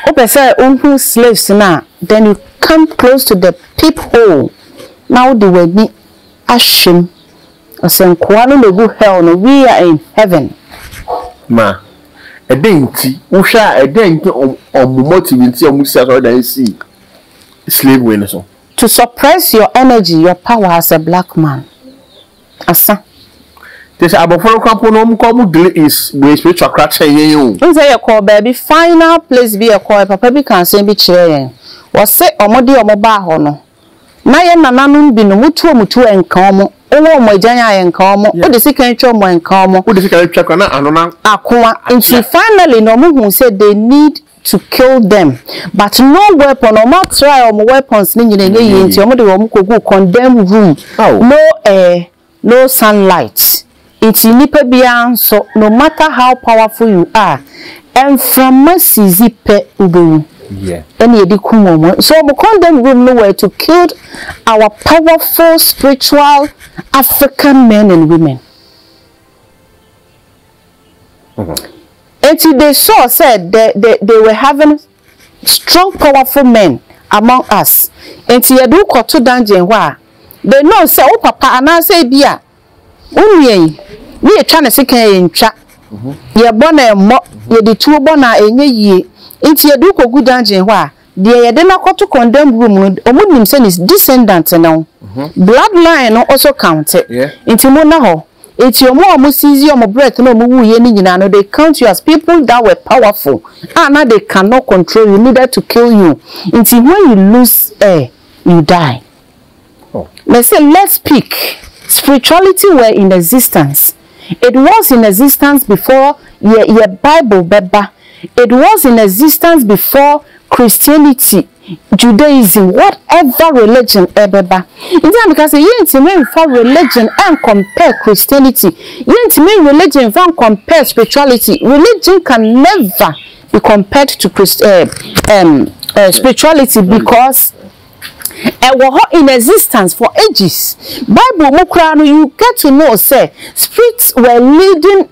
Speaker 3: wopɛ sɛ wohu slaves no a then you come close to the peep hole na wode w'ani ahyem ɔsɛnkoa no na obu hell no we are in heaven. Ma,
Speaker 2: ɛdɛn nti, wohwɛ a ɛdɛn nti na wɔn wɔn motive nti a wɔn si asɔredan si slavery no so? To suppress
Speaker 3: your energy, your power as a black man. Asa.
Speaker 2: Kyerɛ sɛ abɔfra no koraa mpo no wɔn koraa wɔn deal in wɔyɛ spiritual koraa kyɛn yɛn o. Wohu sɛ yɛ kɔɔ baabi
Speaker 3: final place bi yɛ kɔɔ yɛ papa bi kaa asɛm bi kyerɛɛ yɛn, ɔse wɔn de wɔn baa hɔ no, Na yɛn nananom binom, wotu wɔn tu a, ɛnka wɔn. Wowɔ wɔn agyan a, ɛnka wɔn. Wode sekan twa wɔn a, ɛnka wɔn. Wode sekan twa koraa na
Speaker 2: ano no akyea. Akoa.
Speaker 3: Nti finally no, wɔhuu sɛ they need to kill them, but no weapon, wɔatry wɔn weapons no nyinaa, ɛnyɛ yie, nti wɔde wɔn kɔguu condemn room, no air, No sunlight nti nipa biara nso no matter how powerful you are mframa sizi pɛ wobɛwu ɛna yɛde
Speaker 2: kum wɔn nso
Speaker 3: wɔn condemn room no were to killed our powerful spiritual African men and women nti they saw sɛ they they they were having Strong powerful men among us nti yɛde wo kɔto dungeon hɔ a they know sɛ wo papa anaasɛ ebia wo nua yi ne yɛtwa ne sekan a yɛntwa, yɛbɔ no a ɛmmɔ, yɛde tuo bɔ no a ɛnyɛ yie nti yɛde wo kɔgu dungeon hɔ a deɛ yɛde no akɔto condemned room no wɔnim sɛ ne descendant ne wo bloodline no also counte nti monna hɔ. Enti wɔn a wɔ'siizi wɔn breath na wɔn wuiɛ no nyinaa no, they count you as people that were powerful, a na they cannot control you, neither to kill you, nti when you lose air, you die. Let's say, let's speak, spirituality were in existence, it was in existence before yɛ, yɛ Bible bɛba, it was in existence before Christianity, Judaism what ever religion ɛbɛba nti na meka sɛ yɛntumi nfa religion ɛncompare Christianity yɛntumi religion nfa ncompare spirituality religion can never be compared to Christ eh, um, uh, spirituality because ɛwɔ hɔ in existence for ages bible mu koraa no you get to know sɛ spirits were leading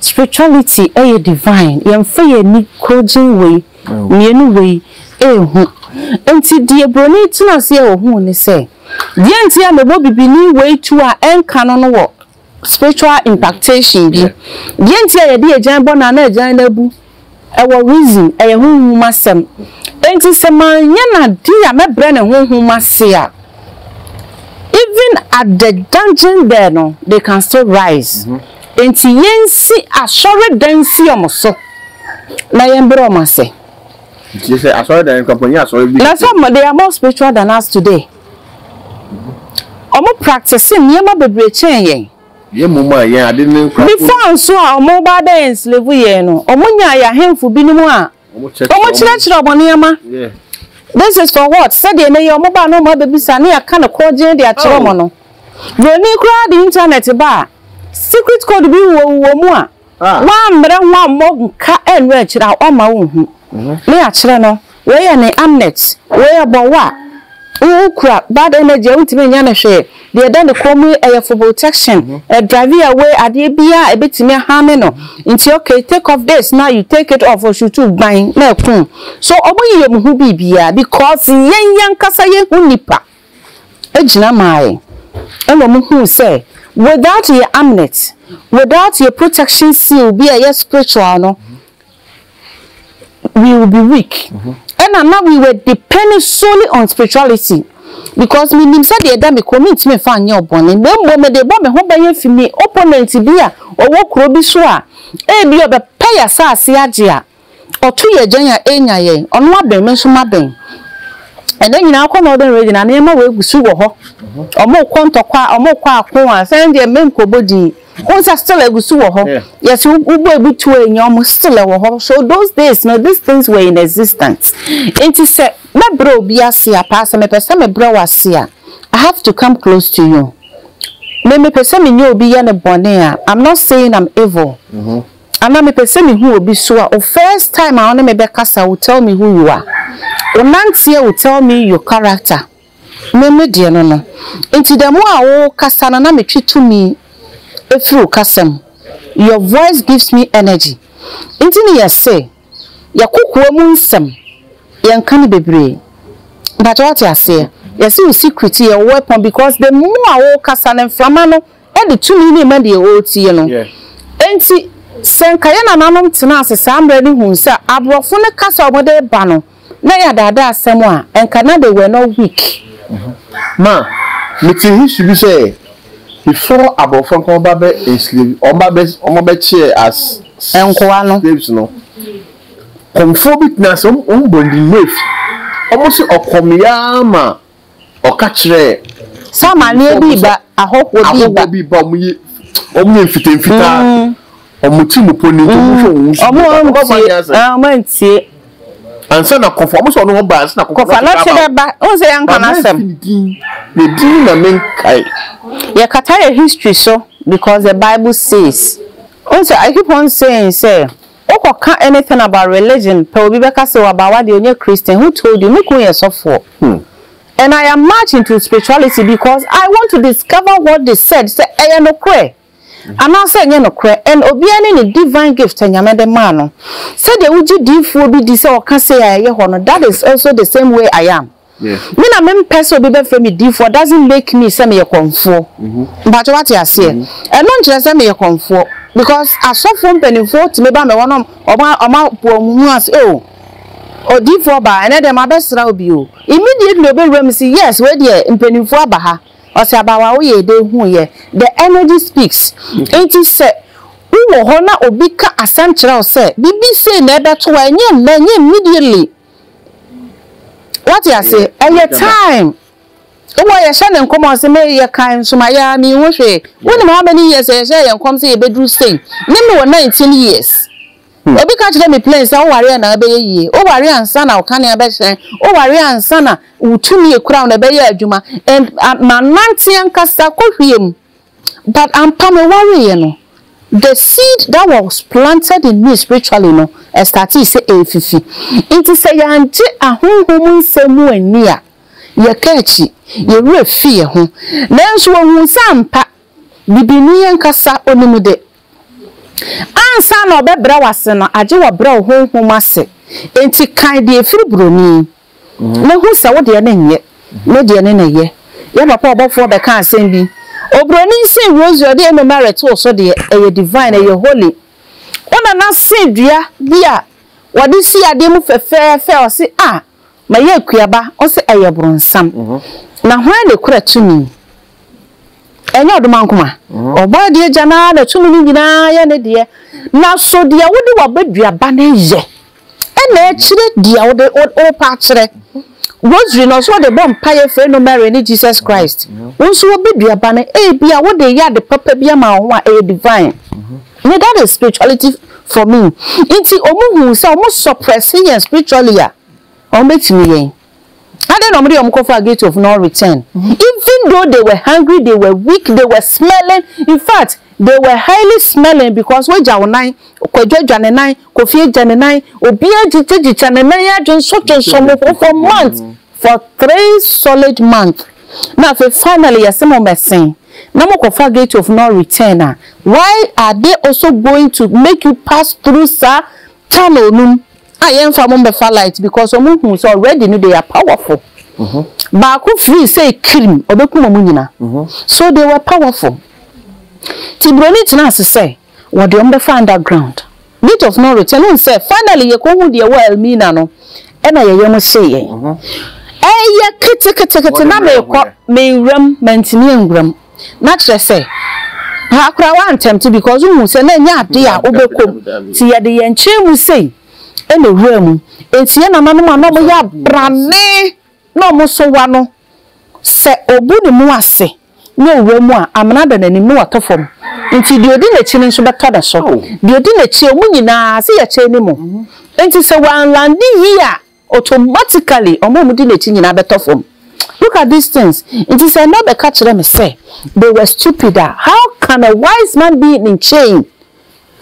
Speaker 3: Spirituality yɛ divine, yɛmfa yɛn ani korɔgyenn wei mmienu wei ɛrehu. Nti deɛ broni tena aseɛ ɔhuu ne sɛ, deɛ nti a mebɔ bibini wei tuo a ɛnka no no wɔ spiritual impactation bi. Deɛ nti a yɛde agyan bɔ no a na agyan no abu. Ɛwɔ reason, ɛyɛ honhom asɛm. Enti sɛ manyɛ no ade a mɛbrɛ no honhom ase a, even at the dungeon there no, they can still rise. Enti yɛnsi asɔredan nsi wɔn so na yɛmbrɛ wɔn ase. Nti sɛ
Speaker 2: asɔredan no kɔpɔ nyɛ asɔre bi. Na sɛ wɔn they are more spiritual
Speaker 3: than us today. Wɔn practice nneɛma bebree kyɛn yɛn. Yɛn mmom a yɛn
Speaker 2: ade ne nkurafo no. Ne faa nso a
Speaker 3: wɔn ba abɛyɛ enslevu yɛn no, wɔn nyaa yɛn ahemfo binom a wɔn kyerɛkyerɛ wɔn nneɛma.
Speaker 2: This is for
Speaker 3: what? Sɛdeɛ ɛnɛ yi wɔn ba na wɔn abɛbisa ne yɛaka no korɔgyen de akyerɛ wɔn no. Buroni koraa de internet ba a, secret code bi wɔ wɔ mu a Woammrɛ ho ammɔ nka annu akyiri a, ɔremma wonhu. Ne akyerɛ no, wei yɛ ne amulet, wei yɛ bɔwɔ a wokura, bad energy a wontumi nyɛ no hwee, deɛ ɛda ne kɔn mu yi ɛyɛ for protection, ɛ drive away adeɛ biara a ɛbɛtumi aharme no, nti okay take off this na you take it off, ɔshuutu gban na ɛkum. So wɔyeyɛ wɔn ho biribiara because yɛn yɛn ankasa yɛnhu nnipa. gyina mae na wɔhuu sɛ without yɛ amnet, without yɛ protection seal bi a ɛyɛ spiritual no, we will be weak. Ɛna na we were depending solely on spirituality because menim sɛ deɛ ɛda me kɔn mentumi mfa nyɛ ɔbɔne na mmom mede bɔ me ho ban afi me opponent bi a ɔwɔ kuro bi so a ebi ɔbɛpɛ yɛ asase agye a Ɔto yɛ agyan a enya yɛn, ɔno abɛn me nso mabɛn. Ɛnɛ nyinaa akɔ na ɔdɛn regyina nneɛma wɔ egu so wɔ hɔ. Ɔmo kɔ ntɔkwa, ɔmo kɔ ako a sɛ ɛndeɛ mme nkɔbɔ din. Wohu sɛ still egu so wɔ hɔ. Yɛ sɛ wobɔ ebi to enya ɔmo still ɛwɔ hɔ. So those days no these things were in existence. Nti sɛ mɛbrɛ obi ase a paa sɛ mepɛ sɛ mebrɛ wo ase a I have to come close to you. Me mepɛ sɛ menye obi yɛ no bɔne a I'm not saying I'm evil. Ana mepɛ sɛ mehu obi so a o first time a ɔne me bɛkasa will tell me who you are wo nanteɛ will tell me your character me me deɛ no no nti the more a wo kasa no na me twe tumi ɛfiri wo kasa mu your voice gives me energy nti ne yɛse yɛ kokoa mu nsɛm yɛ nka no bebree mpakyɛ wate aseɛ yɛse wo secret yɛ wo weapon because the more a wo kasa no mframa no de tumi no rema deɛ ɔretie no. Enti, sɛ anka yɛn nananom tenaa ase saa mmerɛ no huu sɛ aborɔfo no kasa a wɔde reba no na ɛyɛ adaadaasɛm a, anka na they were not weak. Ma
Speaker 2: mete history bi sɛ before aborɔfo anka wɔba bɛ enslave, wɔba bɛ, wɔbɛ kyeɛ as nkoa no, slaves no, kɔmfoɔ bi tenaa ase, wɔn bɔ ndin, Mafe, wɔn se ɔkɔm yɛ ara ma Ɔka kyerɛɛ Sɛ amaneɛ
Speaker 3: bi reba, ahɔhoɔ bi reba. Ahɔhoɔ bi reba, wɔn yɛ, wɔn yɛ mfitamfitaa, wɔn ti mu pɔ ne nti wɔn hwɛ wɔn su nipa no, wɔn antie asɛm. Wɔn antie. Ansa na kɔfɔ, wɔn sɛ wɔn ho ba, ansa na kɔfɔ na te ba. Kɔfɔ na te bɛ ba, wɔn sɛ yɛn nka na asɛm. Yɛ
Speaker 2: din na me nkae. Yɛ kata
Speaker 3: yɛ history so because the bible says, wɔn sɛ I keep on saying sɛ Wokɔka anything about religion pɛ obi bɛka sɛ w'abaawa deɛ ɔnyɛ Christian, who told you? Me kunu yɛ sɔfoɔ and I am much into spirituality because I want to discover what they said sɛ ɛyɛ nokorɛ anaasɛ ɛnyɛ nokorɛ and obiara ne ne divine gift a Nyame de maa no. Sɛdeɛ wogye diifoɔ bi di sɛ ɔka sei a ɛyɛ hɔ no that is also the same way I am. Me na me
Speaker 2: mpɛ sɛ
Speaker 3: obi bɛ frɛ me difoɔ doesn't make me sɛ meyɛ kɔmfoɔ. Mpakyɛ wate aseɛ? Ɛno nkyerɛ sɛ meyɛ kɔmfoɔ because asɔfoɔ mpaninfoɔ tumi ba me hɔ na ɔmo ɔmo apo ɔmo ho ase oh odifoɔ baa ɛnɛ deɛ mabɛ sra wo bi o. Immediately ɔbɛ wura mu si yes wei deɛ mpaninfoɔ aba ha ɔsi abaawa wo yɛ dee hu yɛ the energy speaks nti sɛ wo wɔ hɔ na obi ka asɛm kyerɛ wo sɛ bibi sei na ɛbɛ to wo a ɛnyɛ mma ɛnyɛ immediately. What you say? Ɛyɛ time. Wɔ yɛhyɛ ne nkɔm ɔse me yɛ kan nso ma yɛ me ho hwee. Wo nim how many years yɛhyɛ yɛ nkɔm sɛ yɛbɛduru sei. Ne me wɔ 19 years. Hmm. Obi ka kyerɛ me plain sɛ woware na ɛbɛyɛ yie. Woware ansa na wokane abɛhyɛn. Woware ansa na wotumi ekura na ɛbɛyɛ adwuma. And ma nante ankasa kɔhwie mu. But ampa me wareɛ no the seed that was planted in me spiritually no startee sɛ ɛrefifi nti sɛ yɛangye ahonhom nsɛm mu anni a yɛka akyi yɛn werɛ fi yɛn ho nanso wɔhuu sɛ ampa bibi nni yɛn ankasa onim de ansa na ɔbɛbrɛ wo ase no agye wɔ brɛ wo honhom ase nti kan deɛ ɛfiri buroni. na hu sɛ wo deɛ no nyɛ, me deɛ no na ɛyɛ. Yɛn papa ɔbɔfoɔ bɛkaa asɛm bi, Oburoni nsen rosary a ɔde Ave Maria too so deɛ, ɛyɛ divine, ɛyɛ holy. Wo nana see dua bi a wɔde si adeɛ mu fɛfɛɛfɛ, ɔse, Ah, mayi akuaba. Ɔse, Ɛyɛ bronsam. Na hwan na ɛkura tumi? Ɛnyɛ ɔdomankoma. Ɔbɔ adeɛ agya no ara na tumi no nyinaa yɛ ne deɛ. Na so deɛ wode w'abaduaba no yɛ. Ɛna ɛkyerɛ deɛ wode wopa kyerɛ. Rosary no ɔsɛ wɔde bɔ mpaeɛ frɛ no Mary ne Jesus Christ. Wo nso w'abaduaba no ebi a wode yɛ ade papa bi ama wo ho a ɛyɛ divine. Ne that is spirituality for me. Nti wɔn huu sɛ wɔn suppress yɛn spiritually a wɔn bɛtumi yɛn. Adɛn na wɔde wɔn kɔfaa Gate of No Return? Even though they were hungry, they were weak, they were smelling, in fact, they were highly smelling because woagya wo nan, Kwadwo agya ne nan, Kofi agya ne nan, obiara gyigyagyigyɛ ne nan ara dwonsɔdwonsɔ mu for for months, for three solid months. Na afei finally yɛse mo mmɛsen na mokɔfa Gate of No Return a, why are they also going to make you pass through saa channel no mu? a yɛn fa mo mbɛfa light because ɔmo hu sɛ already no they are powerful baako free say kirim ɔbɛkum ɔmo nyina so they were powerful ti broni tena ase sɛ wɔde ɔmo bɛfa underground gate of no return wohu sɛ finally yɛkɔ hu deɛ wɔ Elmina no ɛna yɛyɛ mo hyee yɛn ɛyɛ keteketekete na mekɔ menwuram mantumi anwuram. na kyerɛ sɛ paa koraa wantɛmte because wohu sɛ na ɛnyɛ ade a wobɛkɔ mu nti yɛde yɛn nkyɛn mu sei na ɛwura mu nti yɛn nananom a na wɔyɛ abrane na wɔn so wa no sɛ ɔbu ne mu ase na ɔwura mu a amena da n'anim na watɔ fam nti deɛ ɔdi n'akyi no nso bɛtɔ ne so deɛ ɔdi n'akyi wɔn nyinaa sɛ yɛkyɛn ne mu nti sɛ wanlande yie a Automatically wɔn a wɔdi n'akyi nyinaa bɛtɔ fam. Look at these things! Enti sɛ ɛnnɛ wobɛka kyerɛ me sɛ they were stupid a, how can a wise man be in chain?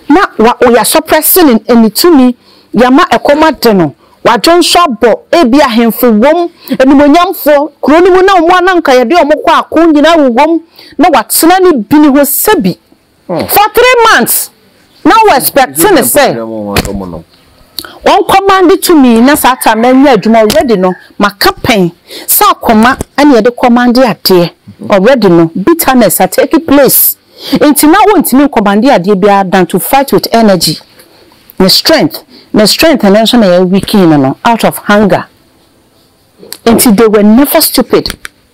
Speaker 3: Na wa o yɛasɔprɛse ne ne ne tumi, yɛama ɛkɔm ade no, wadwo nso abɔ, ebia ahemfo wom, animuonyamfoɔ, kuro no mu na wɔn a na anka yɛde wɔn kɔ ako nyinaa wowom, na watena ne bini ho sɛbi. for three months na wɔ expect ne sɛ wɔnkɔ ma de tumi na saa ta na nya adwuma already no maka pɛn sɛ akoma ɛna yɛde kɔ ma de adeɛ already no bitterness a take place nti na wɔntumi nkɔ ma de adeɛ biara than to fight with energy ne strength ne strength no nso na yɛ weakening no out of hunger nti they were never stupid.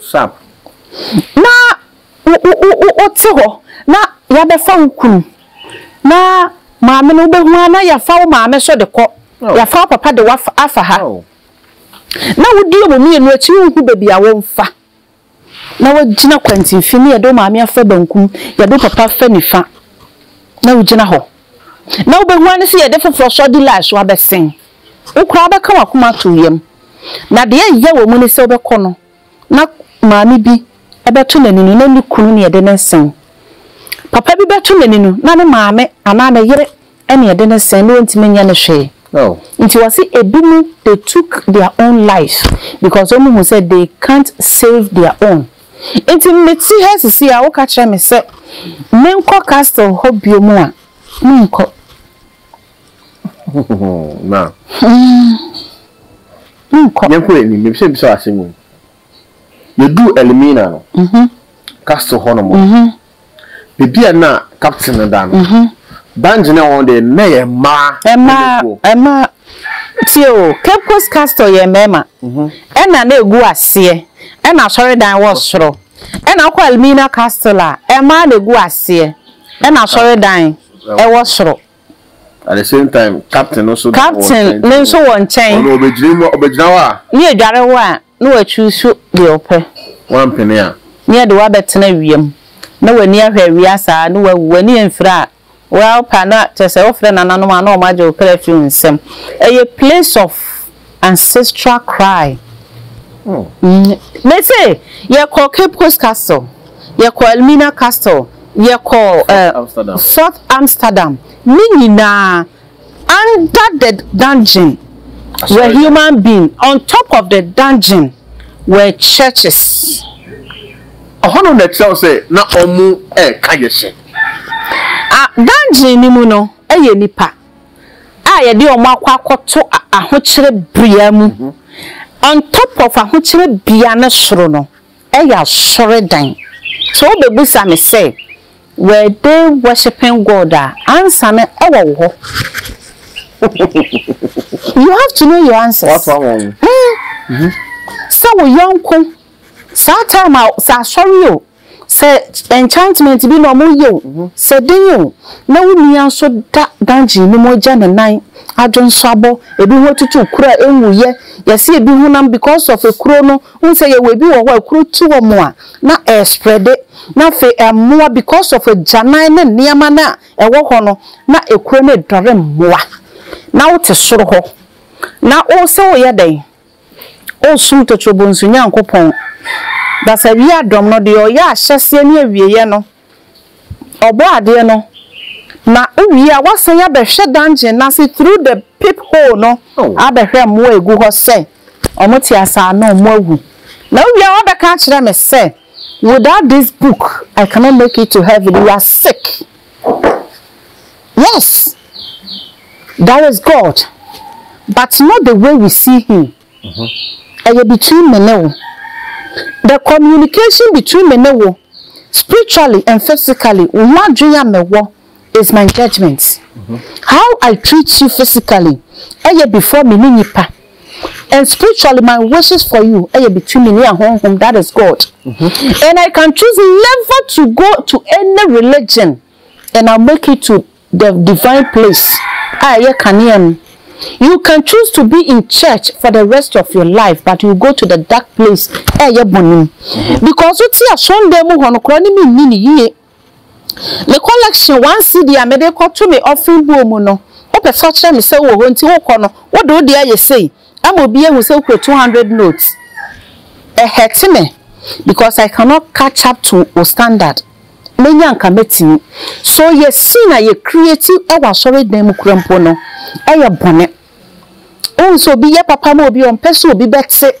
Speaker 3: Sap. Na wote hɔ na yɛabɛfa wo kunu na maame no wobɛhu ara na yɛafa wo maame nso de kɔ, yɛafa wo papa de afa ha na wodi wɔn mmienu akyi wonhu baabi a wɔmfa na woagyina kwantimfini na yɛde wo maame afa bankum, yɛde wo papa afa nifa na wogyina hɔ na wobɛhu ara ne sɛ yɛde foforɔ sɔdilae so abɛsen. Wo koraa bɛka w'akoma ato yam. Na deɛ ɛyɛ wɔ mu ne sɛ wobɛkɔ no na maame bi bɛto n'anini na ne kunu ne ɛde no sɛn. Papa bi bɛto n'anini na ne maame anaa ne yere ne ɛde no sɛn na ɔntumi nyɛ no hwee. Nti wɔse ɛbinom they took their own life because wɔn hu sɛ they can't save their own. Nti mete ha sisi a woka kyerɛ me sɛ menkɔ castle hɔ bio mu a menkɔ.
Speaker 2: na yɛnkɔ anim mepɛ sɛ bisa asɛm mu yɛduu elimina no castle hɔ nom baabi a na captain no da no banji ne wɔn deɛ na yɛ mmaa ɛmaa ɛmaa tie o cape coast castle yɛ mmarima ɛna na egu aseɛ ɛna asɔredan wɔ soro ɛna akɔ elimina castle a ɛmaa na egu aseɛ ɛna asɔredan ɛwɔ soro. At the same time, captain no nso wɔ nkyɛn. Captain no nso wɔ nkyɛn. Ɔno ɔbɛgyina mu, ɔbɛgyina hɔ a. Ne adware wo a, na wachuusu deɛ ɔpɛ. Wampene a. Ne yɛde wo abɛtena awia mu, na w'ani ahwɛ awia saa, na wawu. W'ani amfira a, wo ara wo pɛ a, na kyerɛ sɛ wofrɛ nananom a, na wɔagye wo kra afiri wo nsam. Ɛyɛ place of. Ancestral Cry mm. Me se yɛkɔ Cape Coast Castle, yɛkɔ Elmina Castle, yɛkɔ uh, Fort Amsterdam, ne nyinaa under the dungeon were human being, on top of the dungeon were churches. Ɔhɔ no na ɛkyerɛw sɛ na ɔmo ɛka
Speaker 3: yɛ hyɛ. Dungeon ni mu no
Speaker 2: ɛyɛ
Speaker 3: nipa. a yɛde wɔn akɔ akɔto ahokyerɛ bea mu on top of ahokyerɛ bea no soro no yɛ asɔredan. Sɛ wobɛbisa me sɛ were they worshiping God a, answer no wɔ wo hɔ. You have to know your answers. Mm. Mm-hmm. Sɛ wo yɔnko saa time a sɛ asɔre o Sɛ enchantment bi na wɔreyɛ o, sɛ den o, na wo nua nso da dungeon no mu agya ne nan, adwonsɔabɔ, ebi ho atutu kuro a enwuiɛ, yɛse ebi honam because of ekuro no, wohu sɛ yɛwɔ ebi wɔ hɔ a ekuro tu wɔn a na ɛrespreade, na afei ɛmmoa because of agyanan ne nneɛma no a ɛwɔ hɔ no, na ekuro no redɔre mmoa, na wote soro hɔ na wosɛ woreyɛ dɛn? O sum totoro bonsu Nyankopɔn, Basadua adɔm no, deɛ ɔyɛ ahyɛseɛ ne awieɛ no, Ɔbɔadeɛ no, na wowie a woasan abɛhwɛ dungeon no ase through the peep hole no abɛhwɛ mmoa a ɛgu hɔ sɛ wɔte ase anaa wɔawu, na wowie a woabɛka akyerɛ me sɛ without this book I cannot make it to heaven, you are sick. Yes, there is God but not the way we see him, ɛyɛ between me ne wo, the communication between me ne wo spiritually and physically, wo ho adwene a mewɔ is my judgement, how I treat you physically ɛyɛ before me ne nipa and spiritually my wishes for you ɛyɛ between me ne ahonhom that is God and I can choose never to go to any religion. and I'll make it to the divine place a ɛyɛ kanea no you can choose to be in church for the rest of your life but you go to the dark place a ɛyɛ bɔne mu mm-hmm. because wo te asɔndan mu hɔ no koraa ne menni ne yie me collection one cd a mede kɔto me ɔfen buo mu no wopɛ sɛ ɔkyerɛ me sɛ wowɔ hɔ nti wokɔ no wode wo deɛ ayɛ sei ama obi ahu sɛ wokura 200 notes ɛhɛte me because i cannot catch up to o standard menya anka mɛtumi so yɛ scene a yɛ create wɔ asɔre dan mu kora mpo no yɛ bɔne wohu sɛ obi yɛ papa ma obi ɔmpɛ sɛ obi bɛte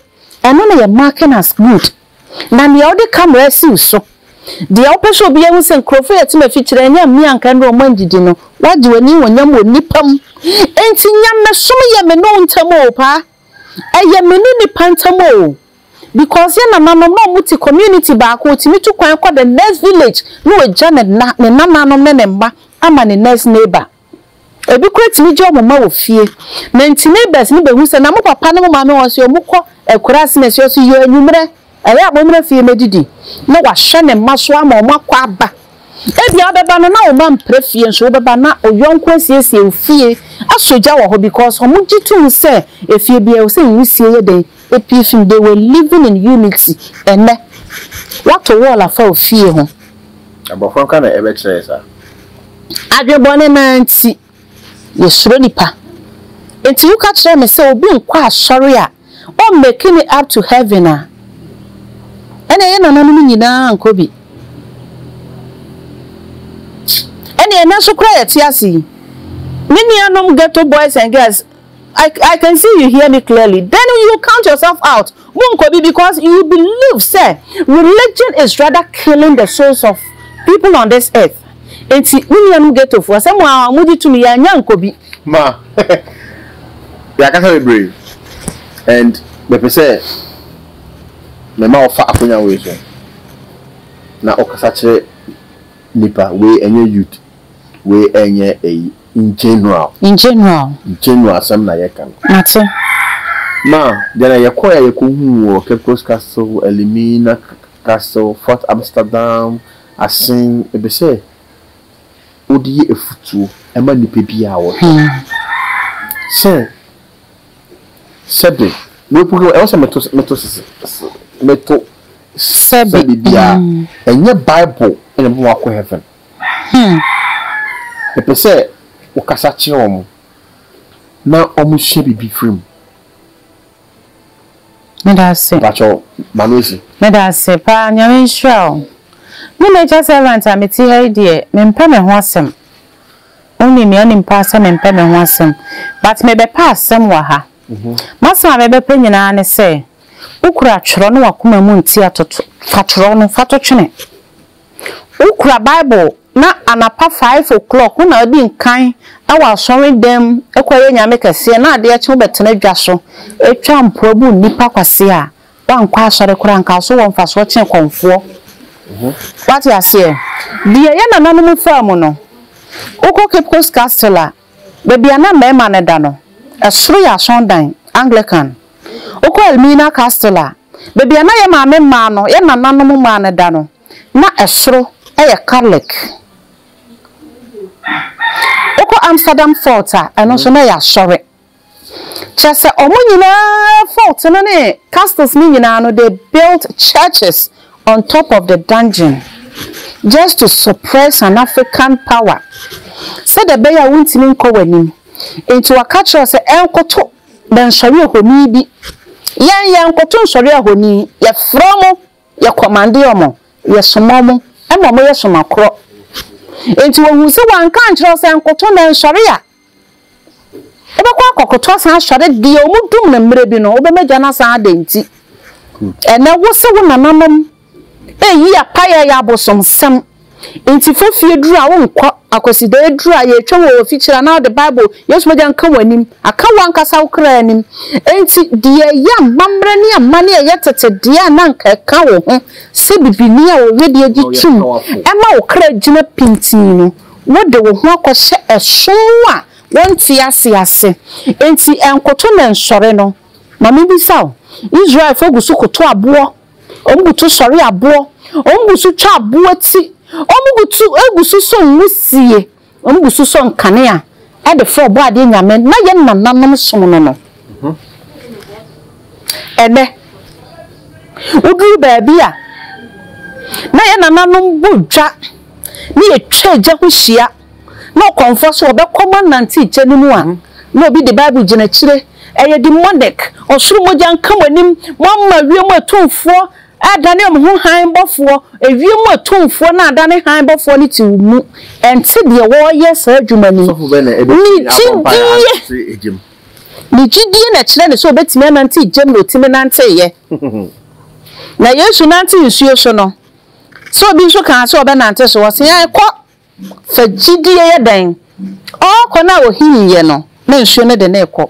Speaker 3: ɛno na yɛ marking as good na nea wode camera asiw so deɛ wopɛ sɛ obi ahu sɛ nkurɔfoɔ yɛ tema fikyerɛ ɛnyɛ mmea anka ɛnna wɔn andidi no wagye w'ani honyam wɔ nnipa mu enti nyamesom yɛ me ne wo ntam o paa Ɛyɛ me ne nipa ntam o because yɛn nananom na ɔmo te community baako ɔtumi tu kwan kɔ the next village na wagya ne nna ne nananom ne ne mma ama ne next neighbor ebi koraa tumi gya ɔmo mma wɔ fie na nti neighbors no bɛ hu sɛ na mo papa ne mo maame wɔn se ɔmo kɔ akuraase na ɛsɛ ɔse yɛ anwummerɛ Ɛyɛ a mommra fie mmɛdidi na wahwɛ ne mma so ama wɔakɔ aba. Ebia wobɛba no na wo mma mpra fie nso wobɛba na oyɔnko asiesie wo fie asɔ gya wɔ hɔ because wɔgye tom sɛ efie biara ɛwɔ sɛ nwisie yɛ dɛn? Epue fi mu. They were living in unity. Ɛnnɛ woato wall afa wo fie ho. Abɔfra nka
Speaker 2: na ɛbɛkyerɛ yɛ saa. Adwene
Speaker 3: bɔne no ara nti. Yɛsuro nipa nti woka kyerɛ me sɛ obi nkɔ asɔre a ɔn make no up to heaven a ɛneɛ yɛ nananom nyinaa ankɔ bi ɛneɛ ɛnɛ nso koraa yɛte ase yi me nuanom ghetto boys and girls I I can see you hear me clearly then you count yourself out mo nkɔ bi because you believe sɛ religion is rather killing the souls of people on this earth nti mo nuanom ghettofoɔ sɛ mo ara mo gye tumi yɛ anya nkɔ bi. Ma
Speaker 2: yɛakasa bebree and mepɛ sɛ mema wo fa akonya wei so na ɔkasa kyerɛ nipa wei ɛnyɛ youth wei ɛnyɛ ɛyi. In general. In general. General asɛm na yɛka no. Mate.
Speaker 3: Na
Speaker 2: deɛ na yɛkɔɛ a yɛkɔhuu wɔ Cape Coast Castle, Elmina Castle, Fort Amsterdam, Asen, ɛpɛ sɛ wode yɛ afutuo ma nnipa bi a wɔtɔ sɛ sɛbe mepugam ɛwɔ sɛ meto meto meto sɛbe biara ɛnyɛ bible ɛna ɛbɛma wakɔ heaven Him. Mepɛ sɛ wo kasa kyerɛ wɔn na wɔn sua biribi firi mu.
Speaker 3: Meda ase. Mpakyɛw, ma
Speaker 2: no asi. Meda ase paa,
Speaker 3: Nyame nhyira wo. Me nature servant a mete ha yi deɛ, mempɛ me ho asɛm. Wonim me, wonim paa sɛ mempɛ me ho asɛm. But mebɛpɛ asɛm wɔ ha. M'asɛm a mebɛpɛ nyinaa ne sɛ, wo kura twerɛ na w'akoma mu nti atoto, fa twerɛ no fa to twene. Wokura Bible na anapa five o'clock wo na wodi nkan wɔ asɔredan mu kɔyɛ Nyame kɛseɛ na adeɛ kye wobɛtena dwa so twa mpoa bu nnipa kwasea a, woankɔ asɔre koraa nka wo so wɔ mfasoɔ kyɛn kɔmfoɔ. Woate aseɛ? Deɛ yɛn nananom faa mu no, wokɔ Cape Coast Castle a, Baabi a na mmarima no da no, ɛsoro yɛ asɔrdan, Anglican. Wokɔ Elmina Castle a, baabi a na yɛn maame mmaa no, yɛn nananom mmaa no da no, na ɛsoro yɛ Katolek. Wokɔ Amsterdam Fort a, ɛno nso na ɛyɛ asɔre. Kyerɛ sɛ wɔn nyinaa fort no ne castles no nyinaa no they built churches on top of the dungeon just to suppress an African power sɛdeɛ ɛbɛyɛ a wontumi nkɔ wɔn anim. Nti wɔka kyerɛ wo sɛ ɛnkoto bɛnsɔre ahoni bi. Yɛn yɛnkoto nsɔre ahoni, yɛfrɛ wɔn, yɛ kɔmande wɔn, yɛsoma wɔn ma wɔyɛ somakorɔ. Nti wɔhuu sɛ wɔanka ankyerɛ wo sɛ nkoto na ɛnsɔre a, Wobɛkɔ akɔkoto asan asɔre deɛ wɔn dum no mmerɛ bi no wobɛma agya no asan adɛn nti ɛnɛ wo se wo nananom ɛyi apaeɛ yɛ abosomsɛm nti fofie duru a wonkɔ akwasidaa aduru a yɛtwa wɔ wɔfikyire anaa wode bible yesu mogya nka wɔn anim aka wo ankasa wo kra anim nti deɛ ɛyɛ amammerɛ ne amane ɛyɛ tete deɛ a na nka ɛka wo ho sɛ bibini a wɔwɛdeɛ gye tum ɛma wo kra gyina pintinn no Wode wo ho akɔhyɛ ɛsom a wonte ase ase. Enti ɛnkoto na ɛnsɔre no, ma mibisa wo, Israelfo gu so koto aboɔ, wɔgu to sɔre aboɔ, wɔgu so twa aboɔ ti, wɔgu to gu so sɔ nwusie, wɔgu so sɔ nkanea de frɛ Ɔbɔadeɛ Nyame no, na yɛn nananom som no no. Ɛnnɛ, woduru baabi a na yɛn nananom bɔ dwa. ne yɛtwa agya ho hyia na ɔkɔmfoɔ so ɔbɛkɔ ma nante egya no mu a na obi de bible gyina akyire ɛyɛ demonic ɔsoro mogya nka mo anim mo ama wiem atumfoɔ adane wɔn ho han bɔfoɔ ewiem atumfoɔ na adane han bɔfoɔ no te wo mu ɛnte deɛ wɔreyɛ saa adwuma ni ne gyidie ne gyidie na ɛkyerɛ ne sɛ obɛtumi anante gyam na otumi nanteeɛ na yesu nante nsuo so no Sɛ obi nso kaa sɛ ɔbɛnante so, ɔse ae, kɔ, fa gyidie yɛ dɛn? Ɔɔkɔ no a ohim yɛ no na nsuo no de no rekɔ.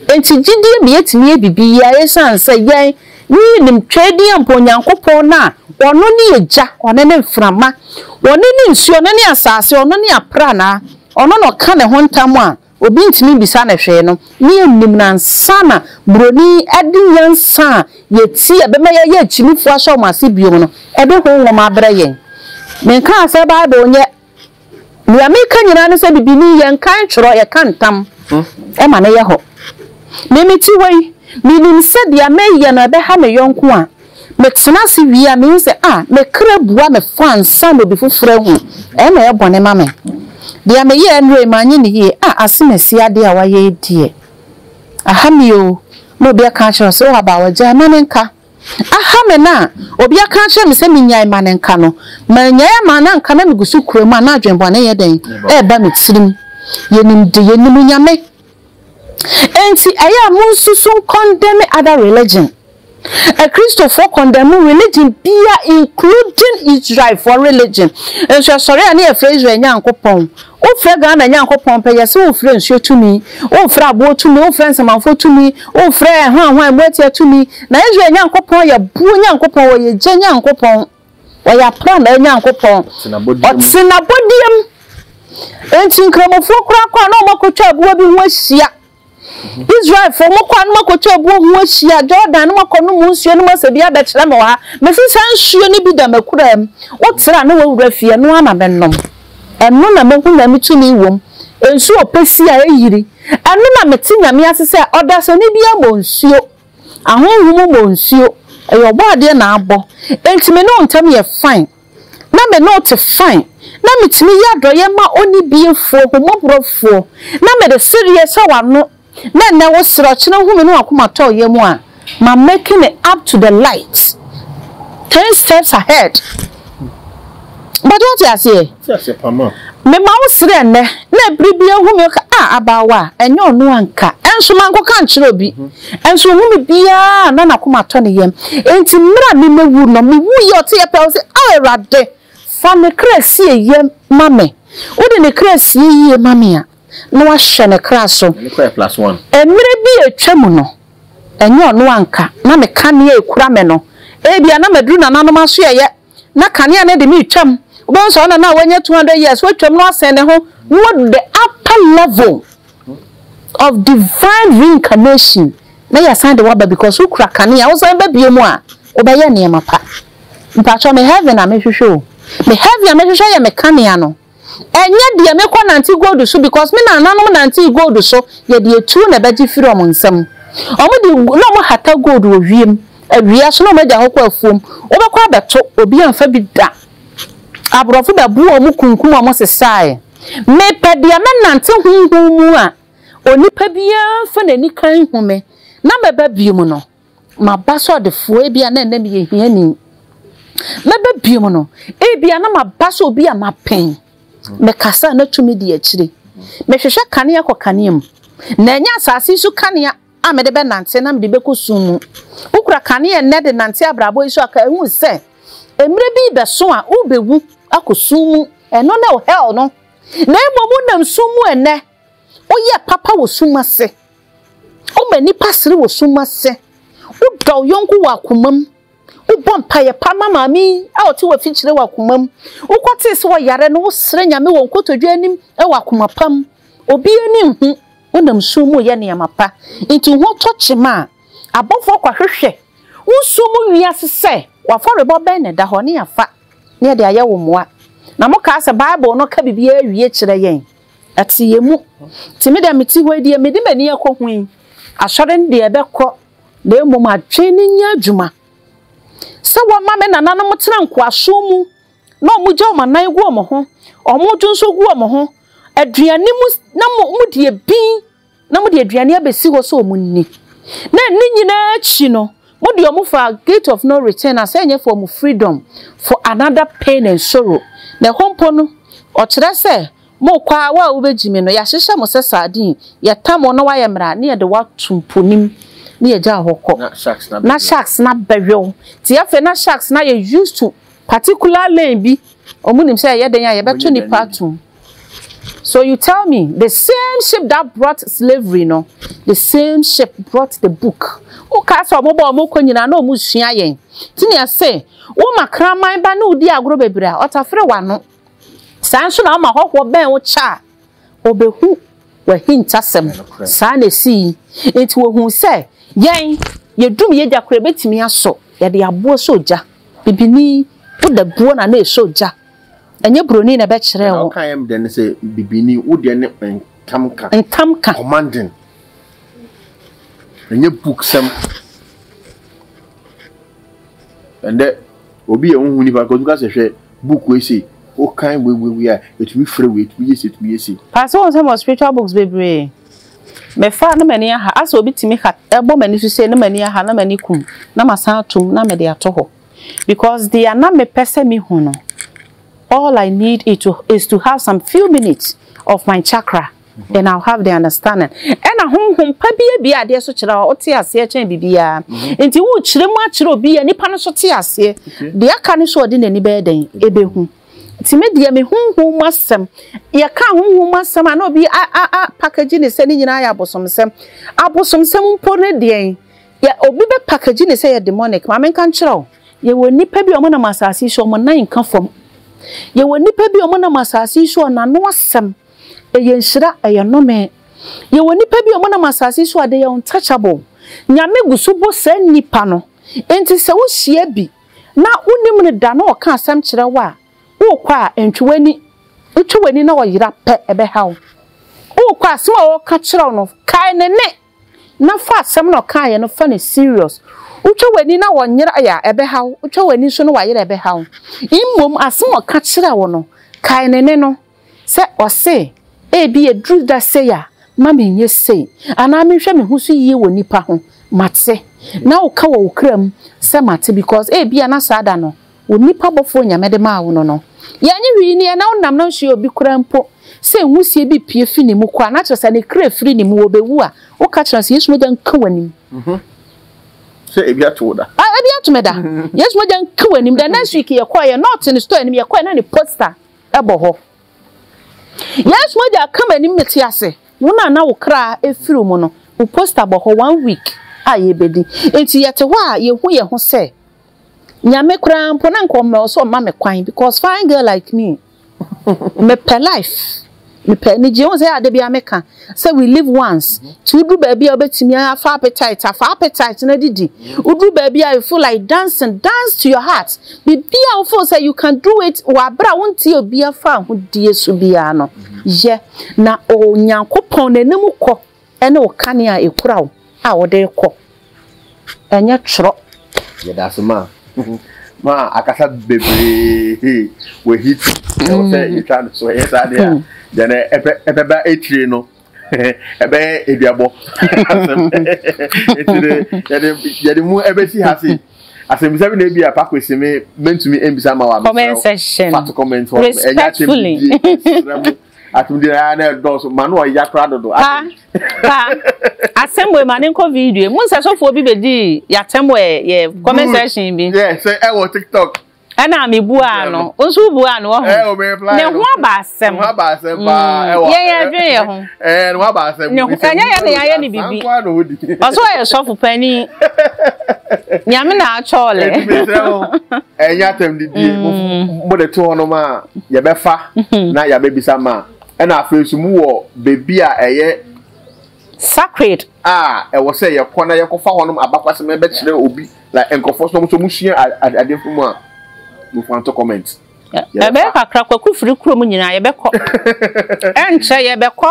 Speaker 3: Enti gyidie ma yɛtumi yɛ biribiara ɛsiane sɛ yɛn ne yɛnim twɛdeɛ mpo Onyankopɔn no a ɔno ne egya, ɔno ne mframa, ɔno ne nsuo, ɔno ne asaase, ɔno ne apranaa, ɔno na ɔka ne ho ntam a, Obi ntumi mbisa no hwee no, na yɛnnim no ansa na Buroni de nyansa a yɛtie a ɛbɛma yɛayɛ akyinnifoɔ ahyɛ wɔn ase bio no de honhom abrɛ yɛn. Menkaa sɛ Bible nyɛ. Nea meka nyinaa ne sɛ bibini, yɛnka ntwerɛ, yɛka ntam ma no yɛ hɔ. Me mete hɔ yi, menim sɛ deɛ mɛyɛ no ɛbɛha me yɔnko a, Metena ase wie a, mihu sɛ, ah, me kra bua me fɔ ansa na obi foforo ahu. Ɛyɛ na ɛyɛ bɔne ma me. Deɛ meyɛɛ nnora yi, manyɛ no yie. Ah, Asenasi adeɛ a wayɛ yi deɛ, aha me oo. Na obi aka akyerɛ wo sɛ, oh, abaawa, gyae, ma no nka. Aha me no a obi aka akyerɛ me sɛ mennyae, ma no nka no, mannyae ama na anka na megu so kura mu a, na adwene bɔne yɛ dɛn? Ɛreba me tirim. Yɛnim de yɛnim Nyame Enti ɛyɛ a monsusu nkɔndɛme other religion. Akristofoɔ kɔndɛme religion biara including Israelfoɔ religion. Nso ɛsɔre a ne yɛfrɛ Israel Nyankopɔn. Wofrɛ Ghana Nyankopɔn pɛ, yɛse wofrɛ nsuo tumi, wofrɛ aboɔ tumi, wofrɛ nsamanfoɔ tumi, wofrɛ ɛhwanhwan mu atia tumi. Na Israel Nyankopɔn yɛ boɔ Nyankopɔn, ɔyɛ gya Nyankopɔn. Ɔyɛ aprannaa Nyankopɔn. Ɔte n'abɔdeɛ mu. Enti Nkramofoɔ koraa kɔ a na wɔakɔtwa aboa bi ho ahyia. Israelfoɔ mokɔ a na moakɔtwa aboa ho ahyia. Jordan na moakɔnom mo nsuo no mu asɛ bi abɛkyerɛ me wɔ ha. Mese saa nsuo no bi da m'akuraa mu. Wotra na woawura fie, ɛno ara na menom. Ɛno na mahu Nyame tumi wɔ mu. Nsuo ɔpɛ si a ɛyiri. Ɛno na mete Nyame ase sɛ ɔdasani biara mmɔ nsuo. Ahonhom bɔ nsuo, ɛyɛ ɔbɔadeɛ na abɔ, enti me ne wo ntam yɛ fine, na me ne wo te fine, na metumi yɛ adɔeɛ ma ɔnibiefoɔ, ahummɔborɔfoɔ, na mede sereɛ sɛ w'ano, na ɛnnɛ wo serɛ, ɔkyena wohu me ne w'akoma tɔ yam a, ma making it up to the light ten steps ahead. Mpakyɛ wote aseɛ?
Speaker 2: Mema wo
Speaker 3: srɛ nnɛ, na ɛbere bi ahu me, ɔka, Ah, abaawa, ɛnyɛ ɔno anka, nso mankɔka ankyerɛ obi, nso ɔhu me biara a, na n'akoma atɔ ne yam, enti mmerɛ a memɛwu no, mewuiɛ, ɔteɛ pɛ, ɔse, Ao Awurade, fa ne kra sie yie ma me, wode ne kra sie yie ma me a, na wahwɛ ne kra so.
Speaker 2: Mmerɛ bi a atwa
Speaker 3: mu no, ɛnyɛ ɔno anka, na me ka nea ɛkura me no, ebia na maduru nananom asoɛeɛ, na kanea no de no retwam. Wobɛhu sɛ ɔna no a wanya 200 years watwam no asɛn ne ho na wadu the upper level of divine reincarnation na yɛasan de waba because wokura kanea wosan ba bio mu a wobɛyɛ nneɛma pa. Mpakyɛw me heaven a mehwehwɛ o. Me heaven a mehwehwɛ yɛ me kanea no. Ɛnyɛ deɛ mekɔ nante gold so because me nananom nantee gold so yɛ deɛ tuo na ɛbɛgye firi wɔn nsam. Wɔn de na wɔn hata gold wɔ wiem, awia so na wɔn agya hɔ kɔ afuom. Wobɛkɔ abɛto, obi amfa bi da. Aborɔfo bɛboa wɔn kunkum wɔn sesaeɛ. Mepɛ deɛ mɛnante honhom mu a onipa biara mfa n'ani kan nhu me na mɛba bio mu no. Maba so ɔdefoɔ, ebia na ɛnnɛ meyɛ hiani. Mɛba biom no, ebia na maba so obi a mapɛn. Mekasa a na tumi di akyire. Mehwehwɛ kanea kɔ kanea mu, na ɛnyɛ asase yi so kanea a mede bɛnante na mede bɛkɔ sum mu. Wokura kanea ɛnnɛ de nante abrabɔ yi so a, kae hu sɛ mmerɛ bi rebɛso a wobɛwu akɔ sum mu. Ɛno ne wo hell no. Na mmom wonam sum mu ɛnnɛ, woyɛ papa wɔ sum ase. Woma nnipa sere wɔ sum ase. Wodɔ wo yɔnko wɔ akomam. Wobɔ mpaeɛ pa ma maame yi a ɔte wɔ afikyire wɔ akomam. Wokɔtee sɛ ɔyare no, wosrɛ Nyame wɔ nkotodwe anim wɔ akoma pa mu. Obi ani nhu, wonam nsuo mu reyɛ nneɛma pa. Enti wo ho tɔ kyema a, abɔfoɔ kɔhwehwɛ wo nsuo mu wiase sɛ w'afɔrebɔ bɛn na ɛda hɔ, ne yɛafa, ne yɛde ayɛ wo mmoa. Na mokaa sɛ Bible no ka biribiara wie kyerɛ yɛn. Ɛte yɛn mu. Nti me deɛ mete hɔ yi deɛ mede m'ani akɔ ho yi, asɔre no deɛ ɛbɛkɔ na mmom adwene no nyɛ adwuma. Sɛ wɔma me nananom tena nkoasom mu na wɔgya wɔn anan gu wɔn ho, wɔn dwo nso gu wɔn ho, aduane mu na wɔdi ebi, na wɔde aduane abɛsi hɔ sɛ wɔnni. Na ne nyinaa akyi no, wɔde wɔn faa Gate of No Return a sɛ ɛnyɛ for wɔn freedom, for another pain and sorrow. Na ɛhɔ mpo no, ɔkyerɛ sɛ, Morekɔ ara, wo a wobɛgye me no, yɛahyehyɛ mo sɛ sardine, yɛtam wo na woayɛ mmrɛ a, na yɛde wo ato mpo no mu, na yɛagya wo hɔ kɔ. Na sharks no abɛwe wo. Nti afei na sharks no ayɛ used to particular lane bi, wɔnim sɛ ɛyɛ dɛn a yɛbɛto nnipa atom. So you tell me the same ship that brought slavery no, the same ship brought the book. O ka sɛ ɔmo bɔ ɔmo kɔ nyinaa na ɔmo sua yɛn. Ti nea se wo ma kraman ba ne wo di agorɔ bebree a ɔtafere w'ano. Saa nso na ɔma hɔhoɔ bɛn wo kyɛ a ɔbɛhu w'ahintasɛm. Saa na esi yi. Nti wɔhu sɛ yɛn yɛdum yɛgya koraa ebetumi aso yɛde aboɔ sɛ ogya. Bibini woda buo na na esɔ ogya. Ɛnyɛ buroni na ɛbɛkyerɛɛ wo. Ɔka yɛm dɛ ne sɛ
Speaker 2: bibini wo deɛ ne ntam ka. Ntam ka. Commanding. Ɛnyɛ book sɛm. Ɛndɛ obi yɛ wohu nipa kɔtumi ka sɛ hwɛ book wei sei wokan wei wei wei a ɛtumi frɛ wei ɛtumi yɛ sei ɛtumi yɛ sei. Paa sɛ wɔn sɛ mɔ spiritual
Speaker 3: books bebree mefa na m'ani aha asɛ obi tumi ka ɛbɔ m'ani so sei na m'ani aha na m'ani kum na masan atom na mede ato hɔ. Because dea na mepɛ sɛ me hu no all I need it to is to have some few minutes of my chakra then I'll have the understanding ɛna honhom pa bi abie adeɛ so kyerɛ a ɔte aseɛ kyɛn biribiara nti wokyerɛ mu akyerɛ obi a nipa no so te aseɛ deɛ aka no so ɔde n'ani bɛyɛ dɛn ɛbɛhu nti me deɛ me honhom mu asɛm yɛka honhom mu asɛm a na obi a a a package ne sɛ ne nyinaa yɛ abosomsɛm abosomsɛm mpo ne deɛn Yɛ obi bɛ package ne sɛ yɛ demonic ma menka nkyerɛ wo yɛ wɔ nipa bi a ɔmo nam asaase yi so ɔmo nan nka fam yɛ wɔ nipa bi a ɔmo nam asaase yi so a n'ano asɛm ɛyɛ nhyira ɛyɛ nome yɛ wɔ nipa bi a ɔmo nam asaase yi so a they are untouchable nyame gu so bɔ saa nipa no nti sɛ wo hyia bi na wo nim no da na ɔka asɛm kyerɛ wo a wo kɔ a ntwe w'ani wo twe w'ani na ɔyera pɛ ɛbɛ ha wo wo kɔ a asɛm a ɔka kyerɛ wo no kae ne ne. na fa asɛm na ɔkaeɛ no fa no serious. Wotwa w'ani na ɔnyera yɛ a, ɛbɛha wo. Wotwa w'ani nso na wayera a, ɛbɛha wo. Mmom asɛm a ɔka kyerɛɛ wo no, kae ne nne no. Sɛ ɔse, Ebi a ɛduru da sei a, mma menyɛ sei, anaa menhwɛ me ho so yie wɔ nnipa ho, mate. Na woka wɔ wo kra mu sɛ mate because ebia na saa da no, Wo nipa bɔfoɔ Nyame de maa wo no no yɛ nye hwee nie na wo nam no nso yɛ obi koraa mpo sɛ nhusie bi pue fi ne mu kɔ a na kyerɛ sɛ ne kra firi ne mu ɔbɛ wu a wo ka kyerɛ no sɛ Yesu mogya nka w'anim sɛ ebi
Speaker 2: ato wo da ah ebi ato me da
Speaker 3: Yesu mogya nka w'anim the next week yɛ kɔɛ yɛ nɔɔte ne store anim yɛ kɔɛ na ne poster ɛbɔ hɔ Yesu mogya ka m'anim mete ase wo na na wo kra efiri mu no wo poster bɔ hɔ one week a yɛbɛdi nti yɛte hɔ a yɛhu yɛ ho sɛ Nyame koraa mpo na nka ɔmmɛwɔ so ɔmma me kwan because fine girl like me mepɛ life mepɛ anigye ho sɛ ade bia meka sɛ we live once nti woduru baabi a wobɛtumi afa appetite afa appetite no adidi woduru baabi a you feel like dancing dance to your heart biribi a wofeel sɛ you can do it wɔ aberɛ a wontie obi afa ahodie so biara no yɛ na onyankopɔn n'anim kɔ Ɛne wo kanea a ɛkura wo a wode rekɔ, ɛnyɛ twerɛ. Yɛdase ma
Speaker 2: ma akasa bebree wɔ hit ɛwɔ sɛ yɛtwa no so ɛyɛ saa deɛ a deɛ ɛbɛba akyire no ɛbɛyɛ aduabɔ asɛm ɛtire yɛde mu ɛbɛsi ha se asɛmisa bi na ebi a pako si me mentumi mbisa ma wa mesrɛ fato
Speaker 3: comment hɔ
Speaker 2: ɛnyɛ akyɛ bi ɛsrɛ mo Atum deɛ ɛyɛ na ɛdɔɔso ma no ɔya koraa dodo. Pa pa
Speaker 3: asɛm wɔ ma ne nkɔ video mu nsɛ sɔfoɔ bi bɛdi yɛatɛm wɔ yɛ comment section bi. Yɛ sɛ ɛwɔ tiktok.
Speaker 2: Ɛna mi bu
Speaker 3: ano nso bu ano wɔ ho. Ne ho aba asɛm. Ne ho aba asɛm paa mm. ɛwɔ.
Speaker 2: Yɛn yɛn adwene yɛ ho.
Speaker 3: Ɛɛ ne ho aba asɛm. Ne
Speaker 2: ho ɛnyɛ yɛn na yɛayɛ
Speaker 3: ne bibi. Ɔsɔ yɛ sɔfo panyin. Nyame na atwɔɔlɛ.
Speaker 2: ɛnyɛ atɛm didie mm. mo de to hɔ nom a yɛbɛfa mm-hmm. na yɛabɛbisa ma ɛna afei nso mu wɔ baabi a ɛyɛ
Speaker 3: sacred a ɛwɔ
Speaker 2: sɛ yɛkɔ na yɛkɔfa hɔ nom abakwasɛm ɛbɛkyerɛ obi na nkurɔfoɔ nso nso musua adeɛ fo mu a mofan to comment ɛbɛyɛ kakra
Speaker 3: kwaku firi kurom nyinaa yɛbɛkɔ ɛnkyɛ yɛbɛkɔ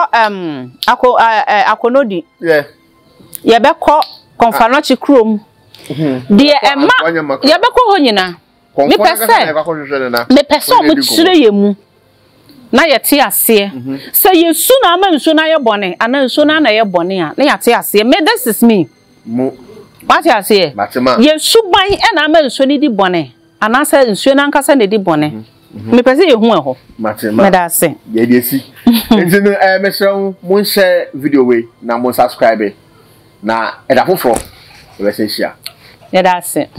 Speaker 3: akɔnɔdi yɛbɛkɔ kɔmfanɔkye kurom hmm. deɛ ɛma yɛbɛkɔ hɔ nyina mepɛ sɛ mepɛ sɛ ɔmo kyerɛ yɛ mu na yɛte aseɛ mhm. sɛ yɛsu na ama nsuo no ayɛ bɔne anaa nsuo no ana yɛ bɔne a na yɛate aseɛ me this is me
Speaker 2: wate aseɛ
Speaker 3: yɛsu ban ɛna ama nsuo no di bɔne Anaasɛ nsuo no ankasa na ɛdi bɔne? Mhm. Mepɛ sɛ yɛhu ɛhɔ. Meda ase. Yɛde asi.
Speaker 2: Nti no, eh, mɛsrɛ wo, monhyɛ video wei na monsubscribe
Speaker 3: na
Speaker 2: ɛda foforɔ yɛbɛsɛ hyia. Yɛda ase.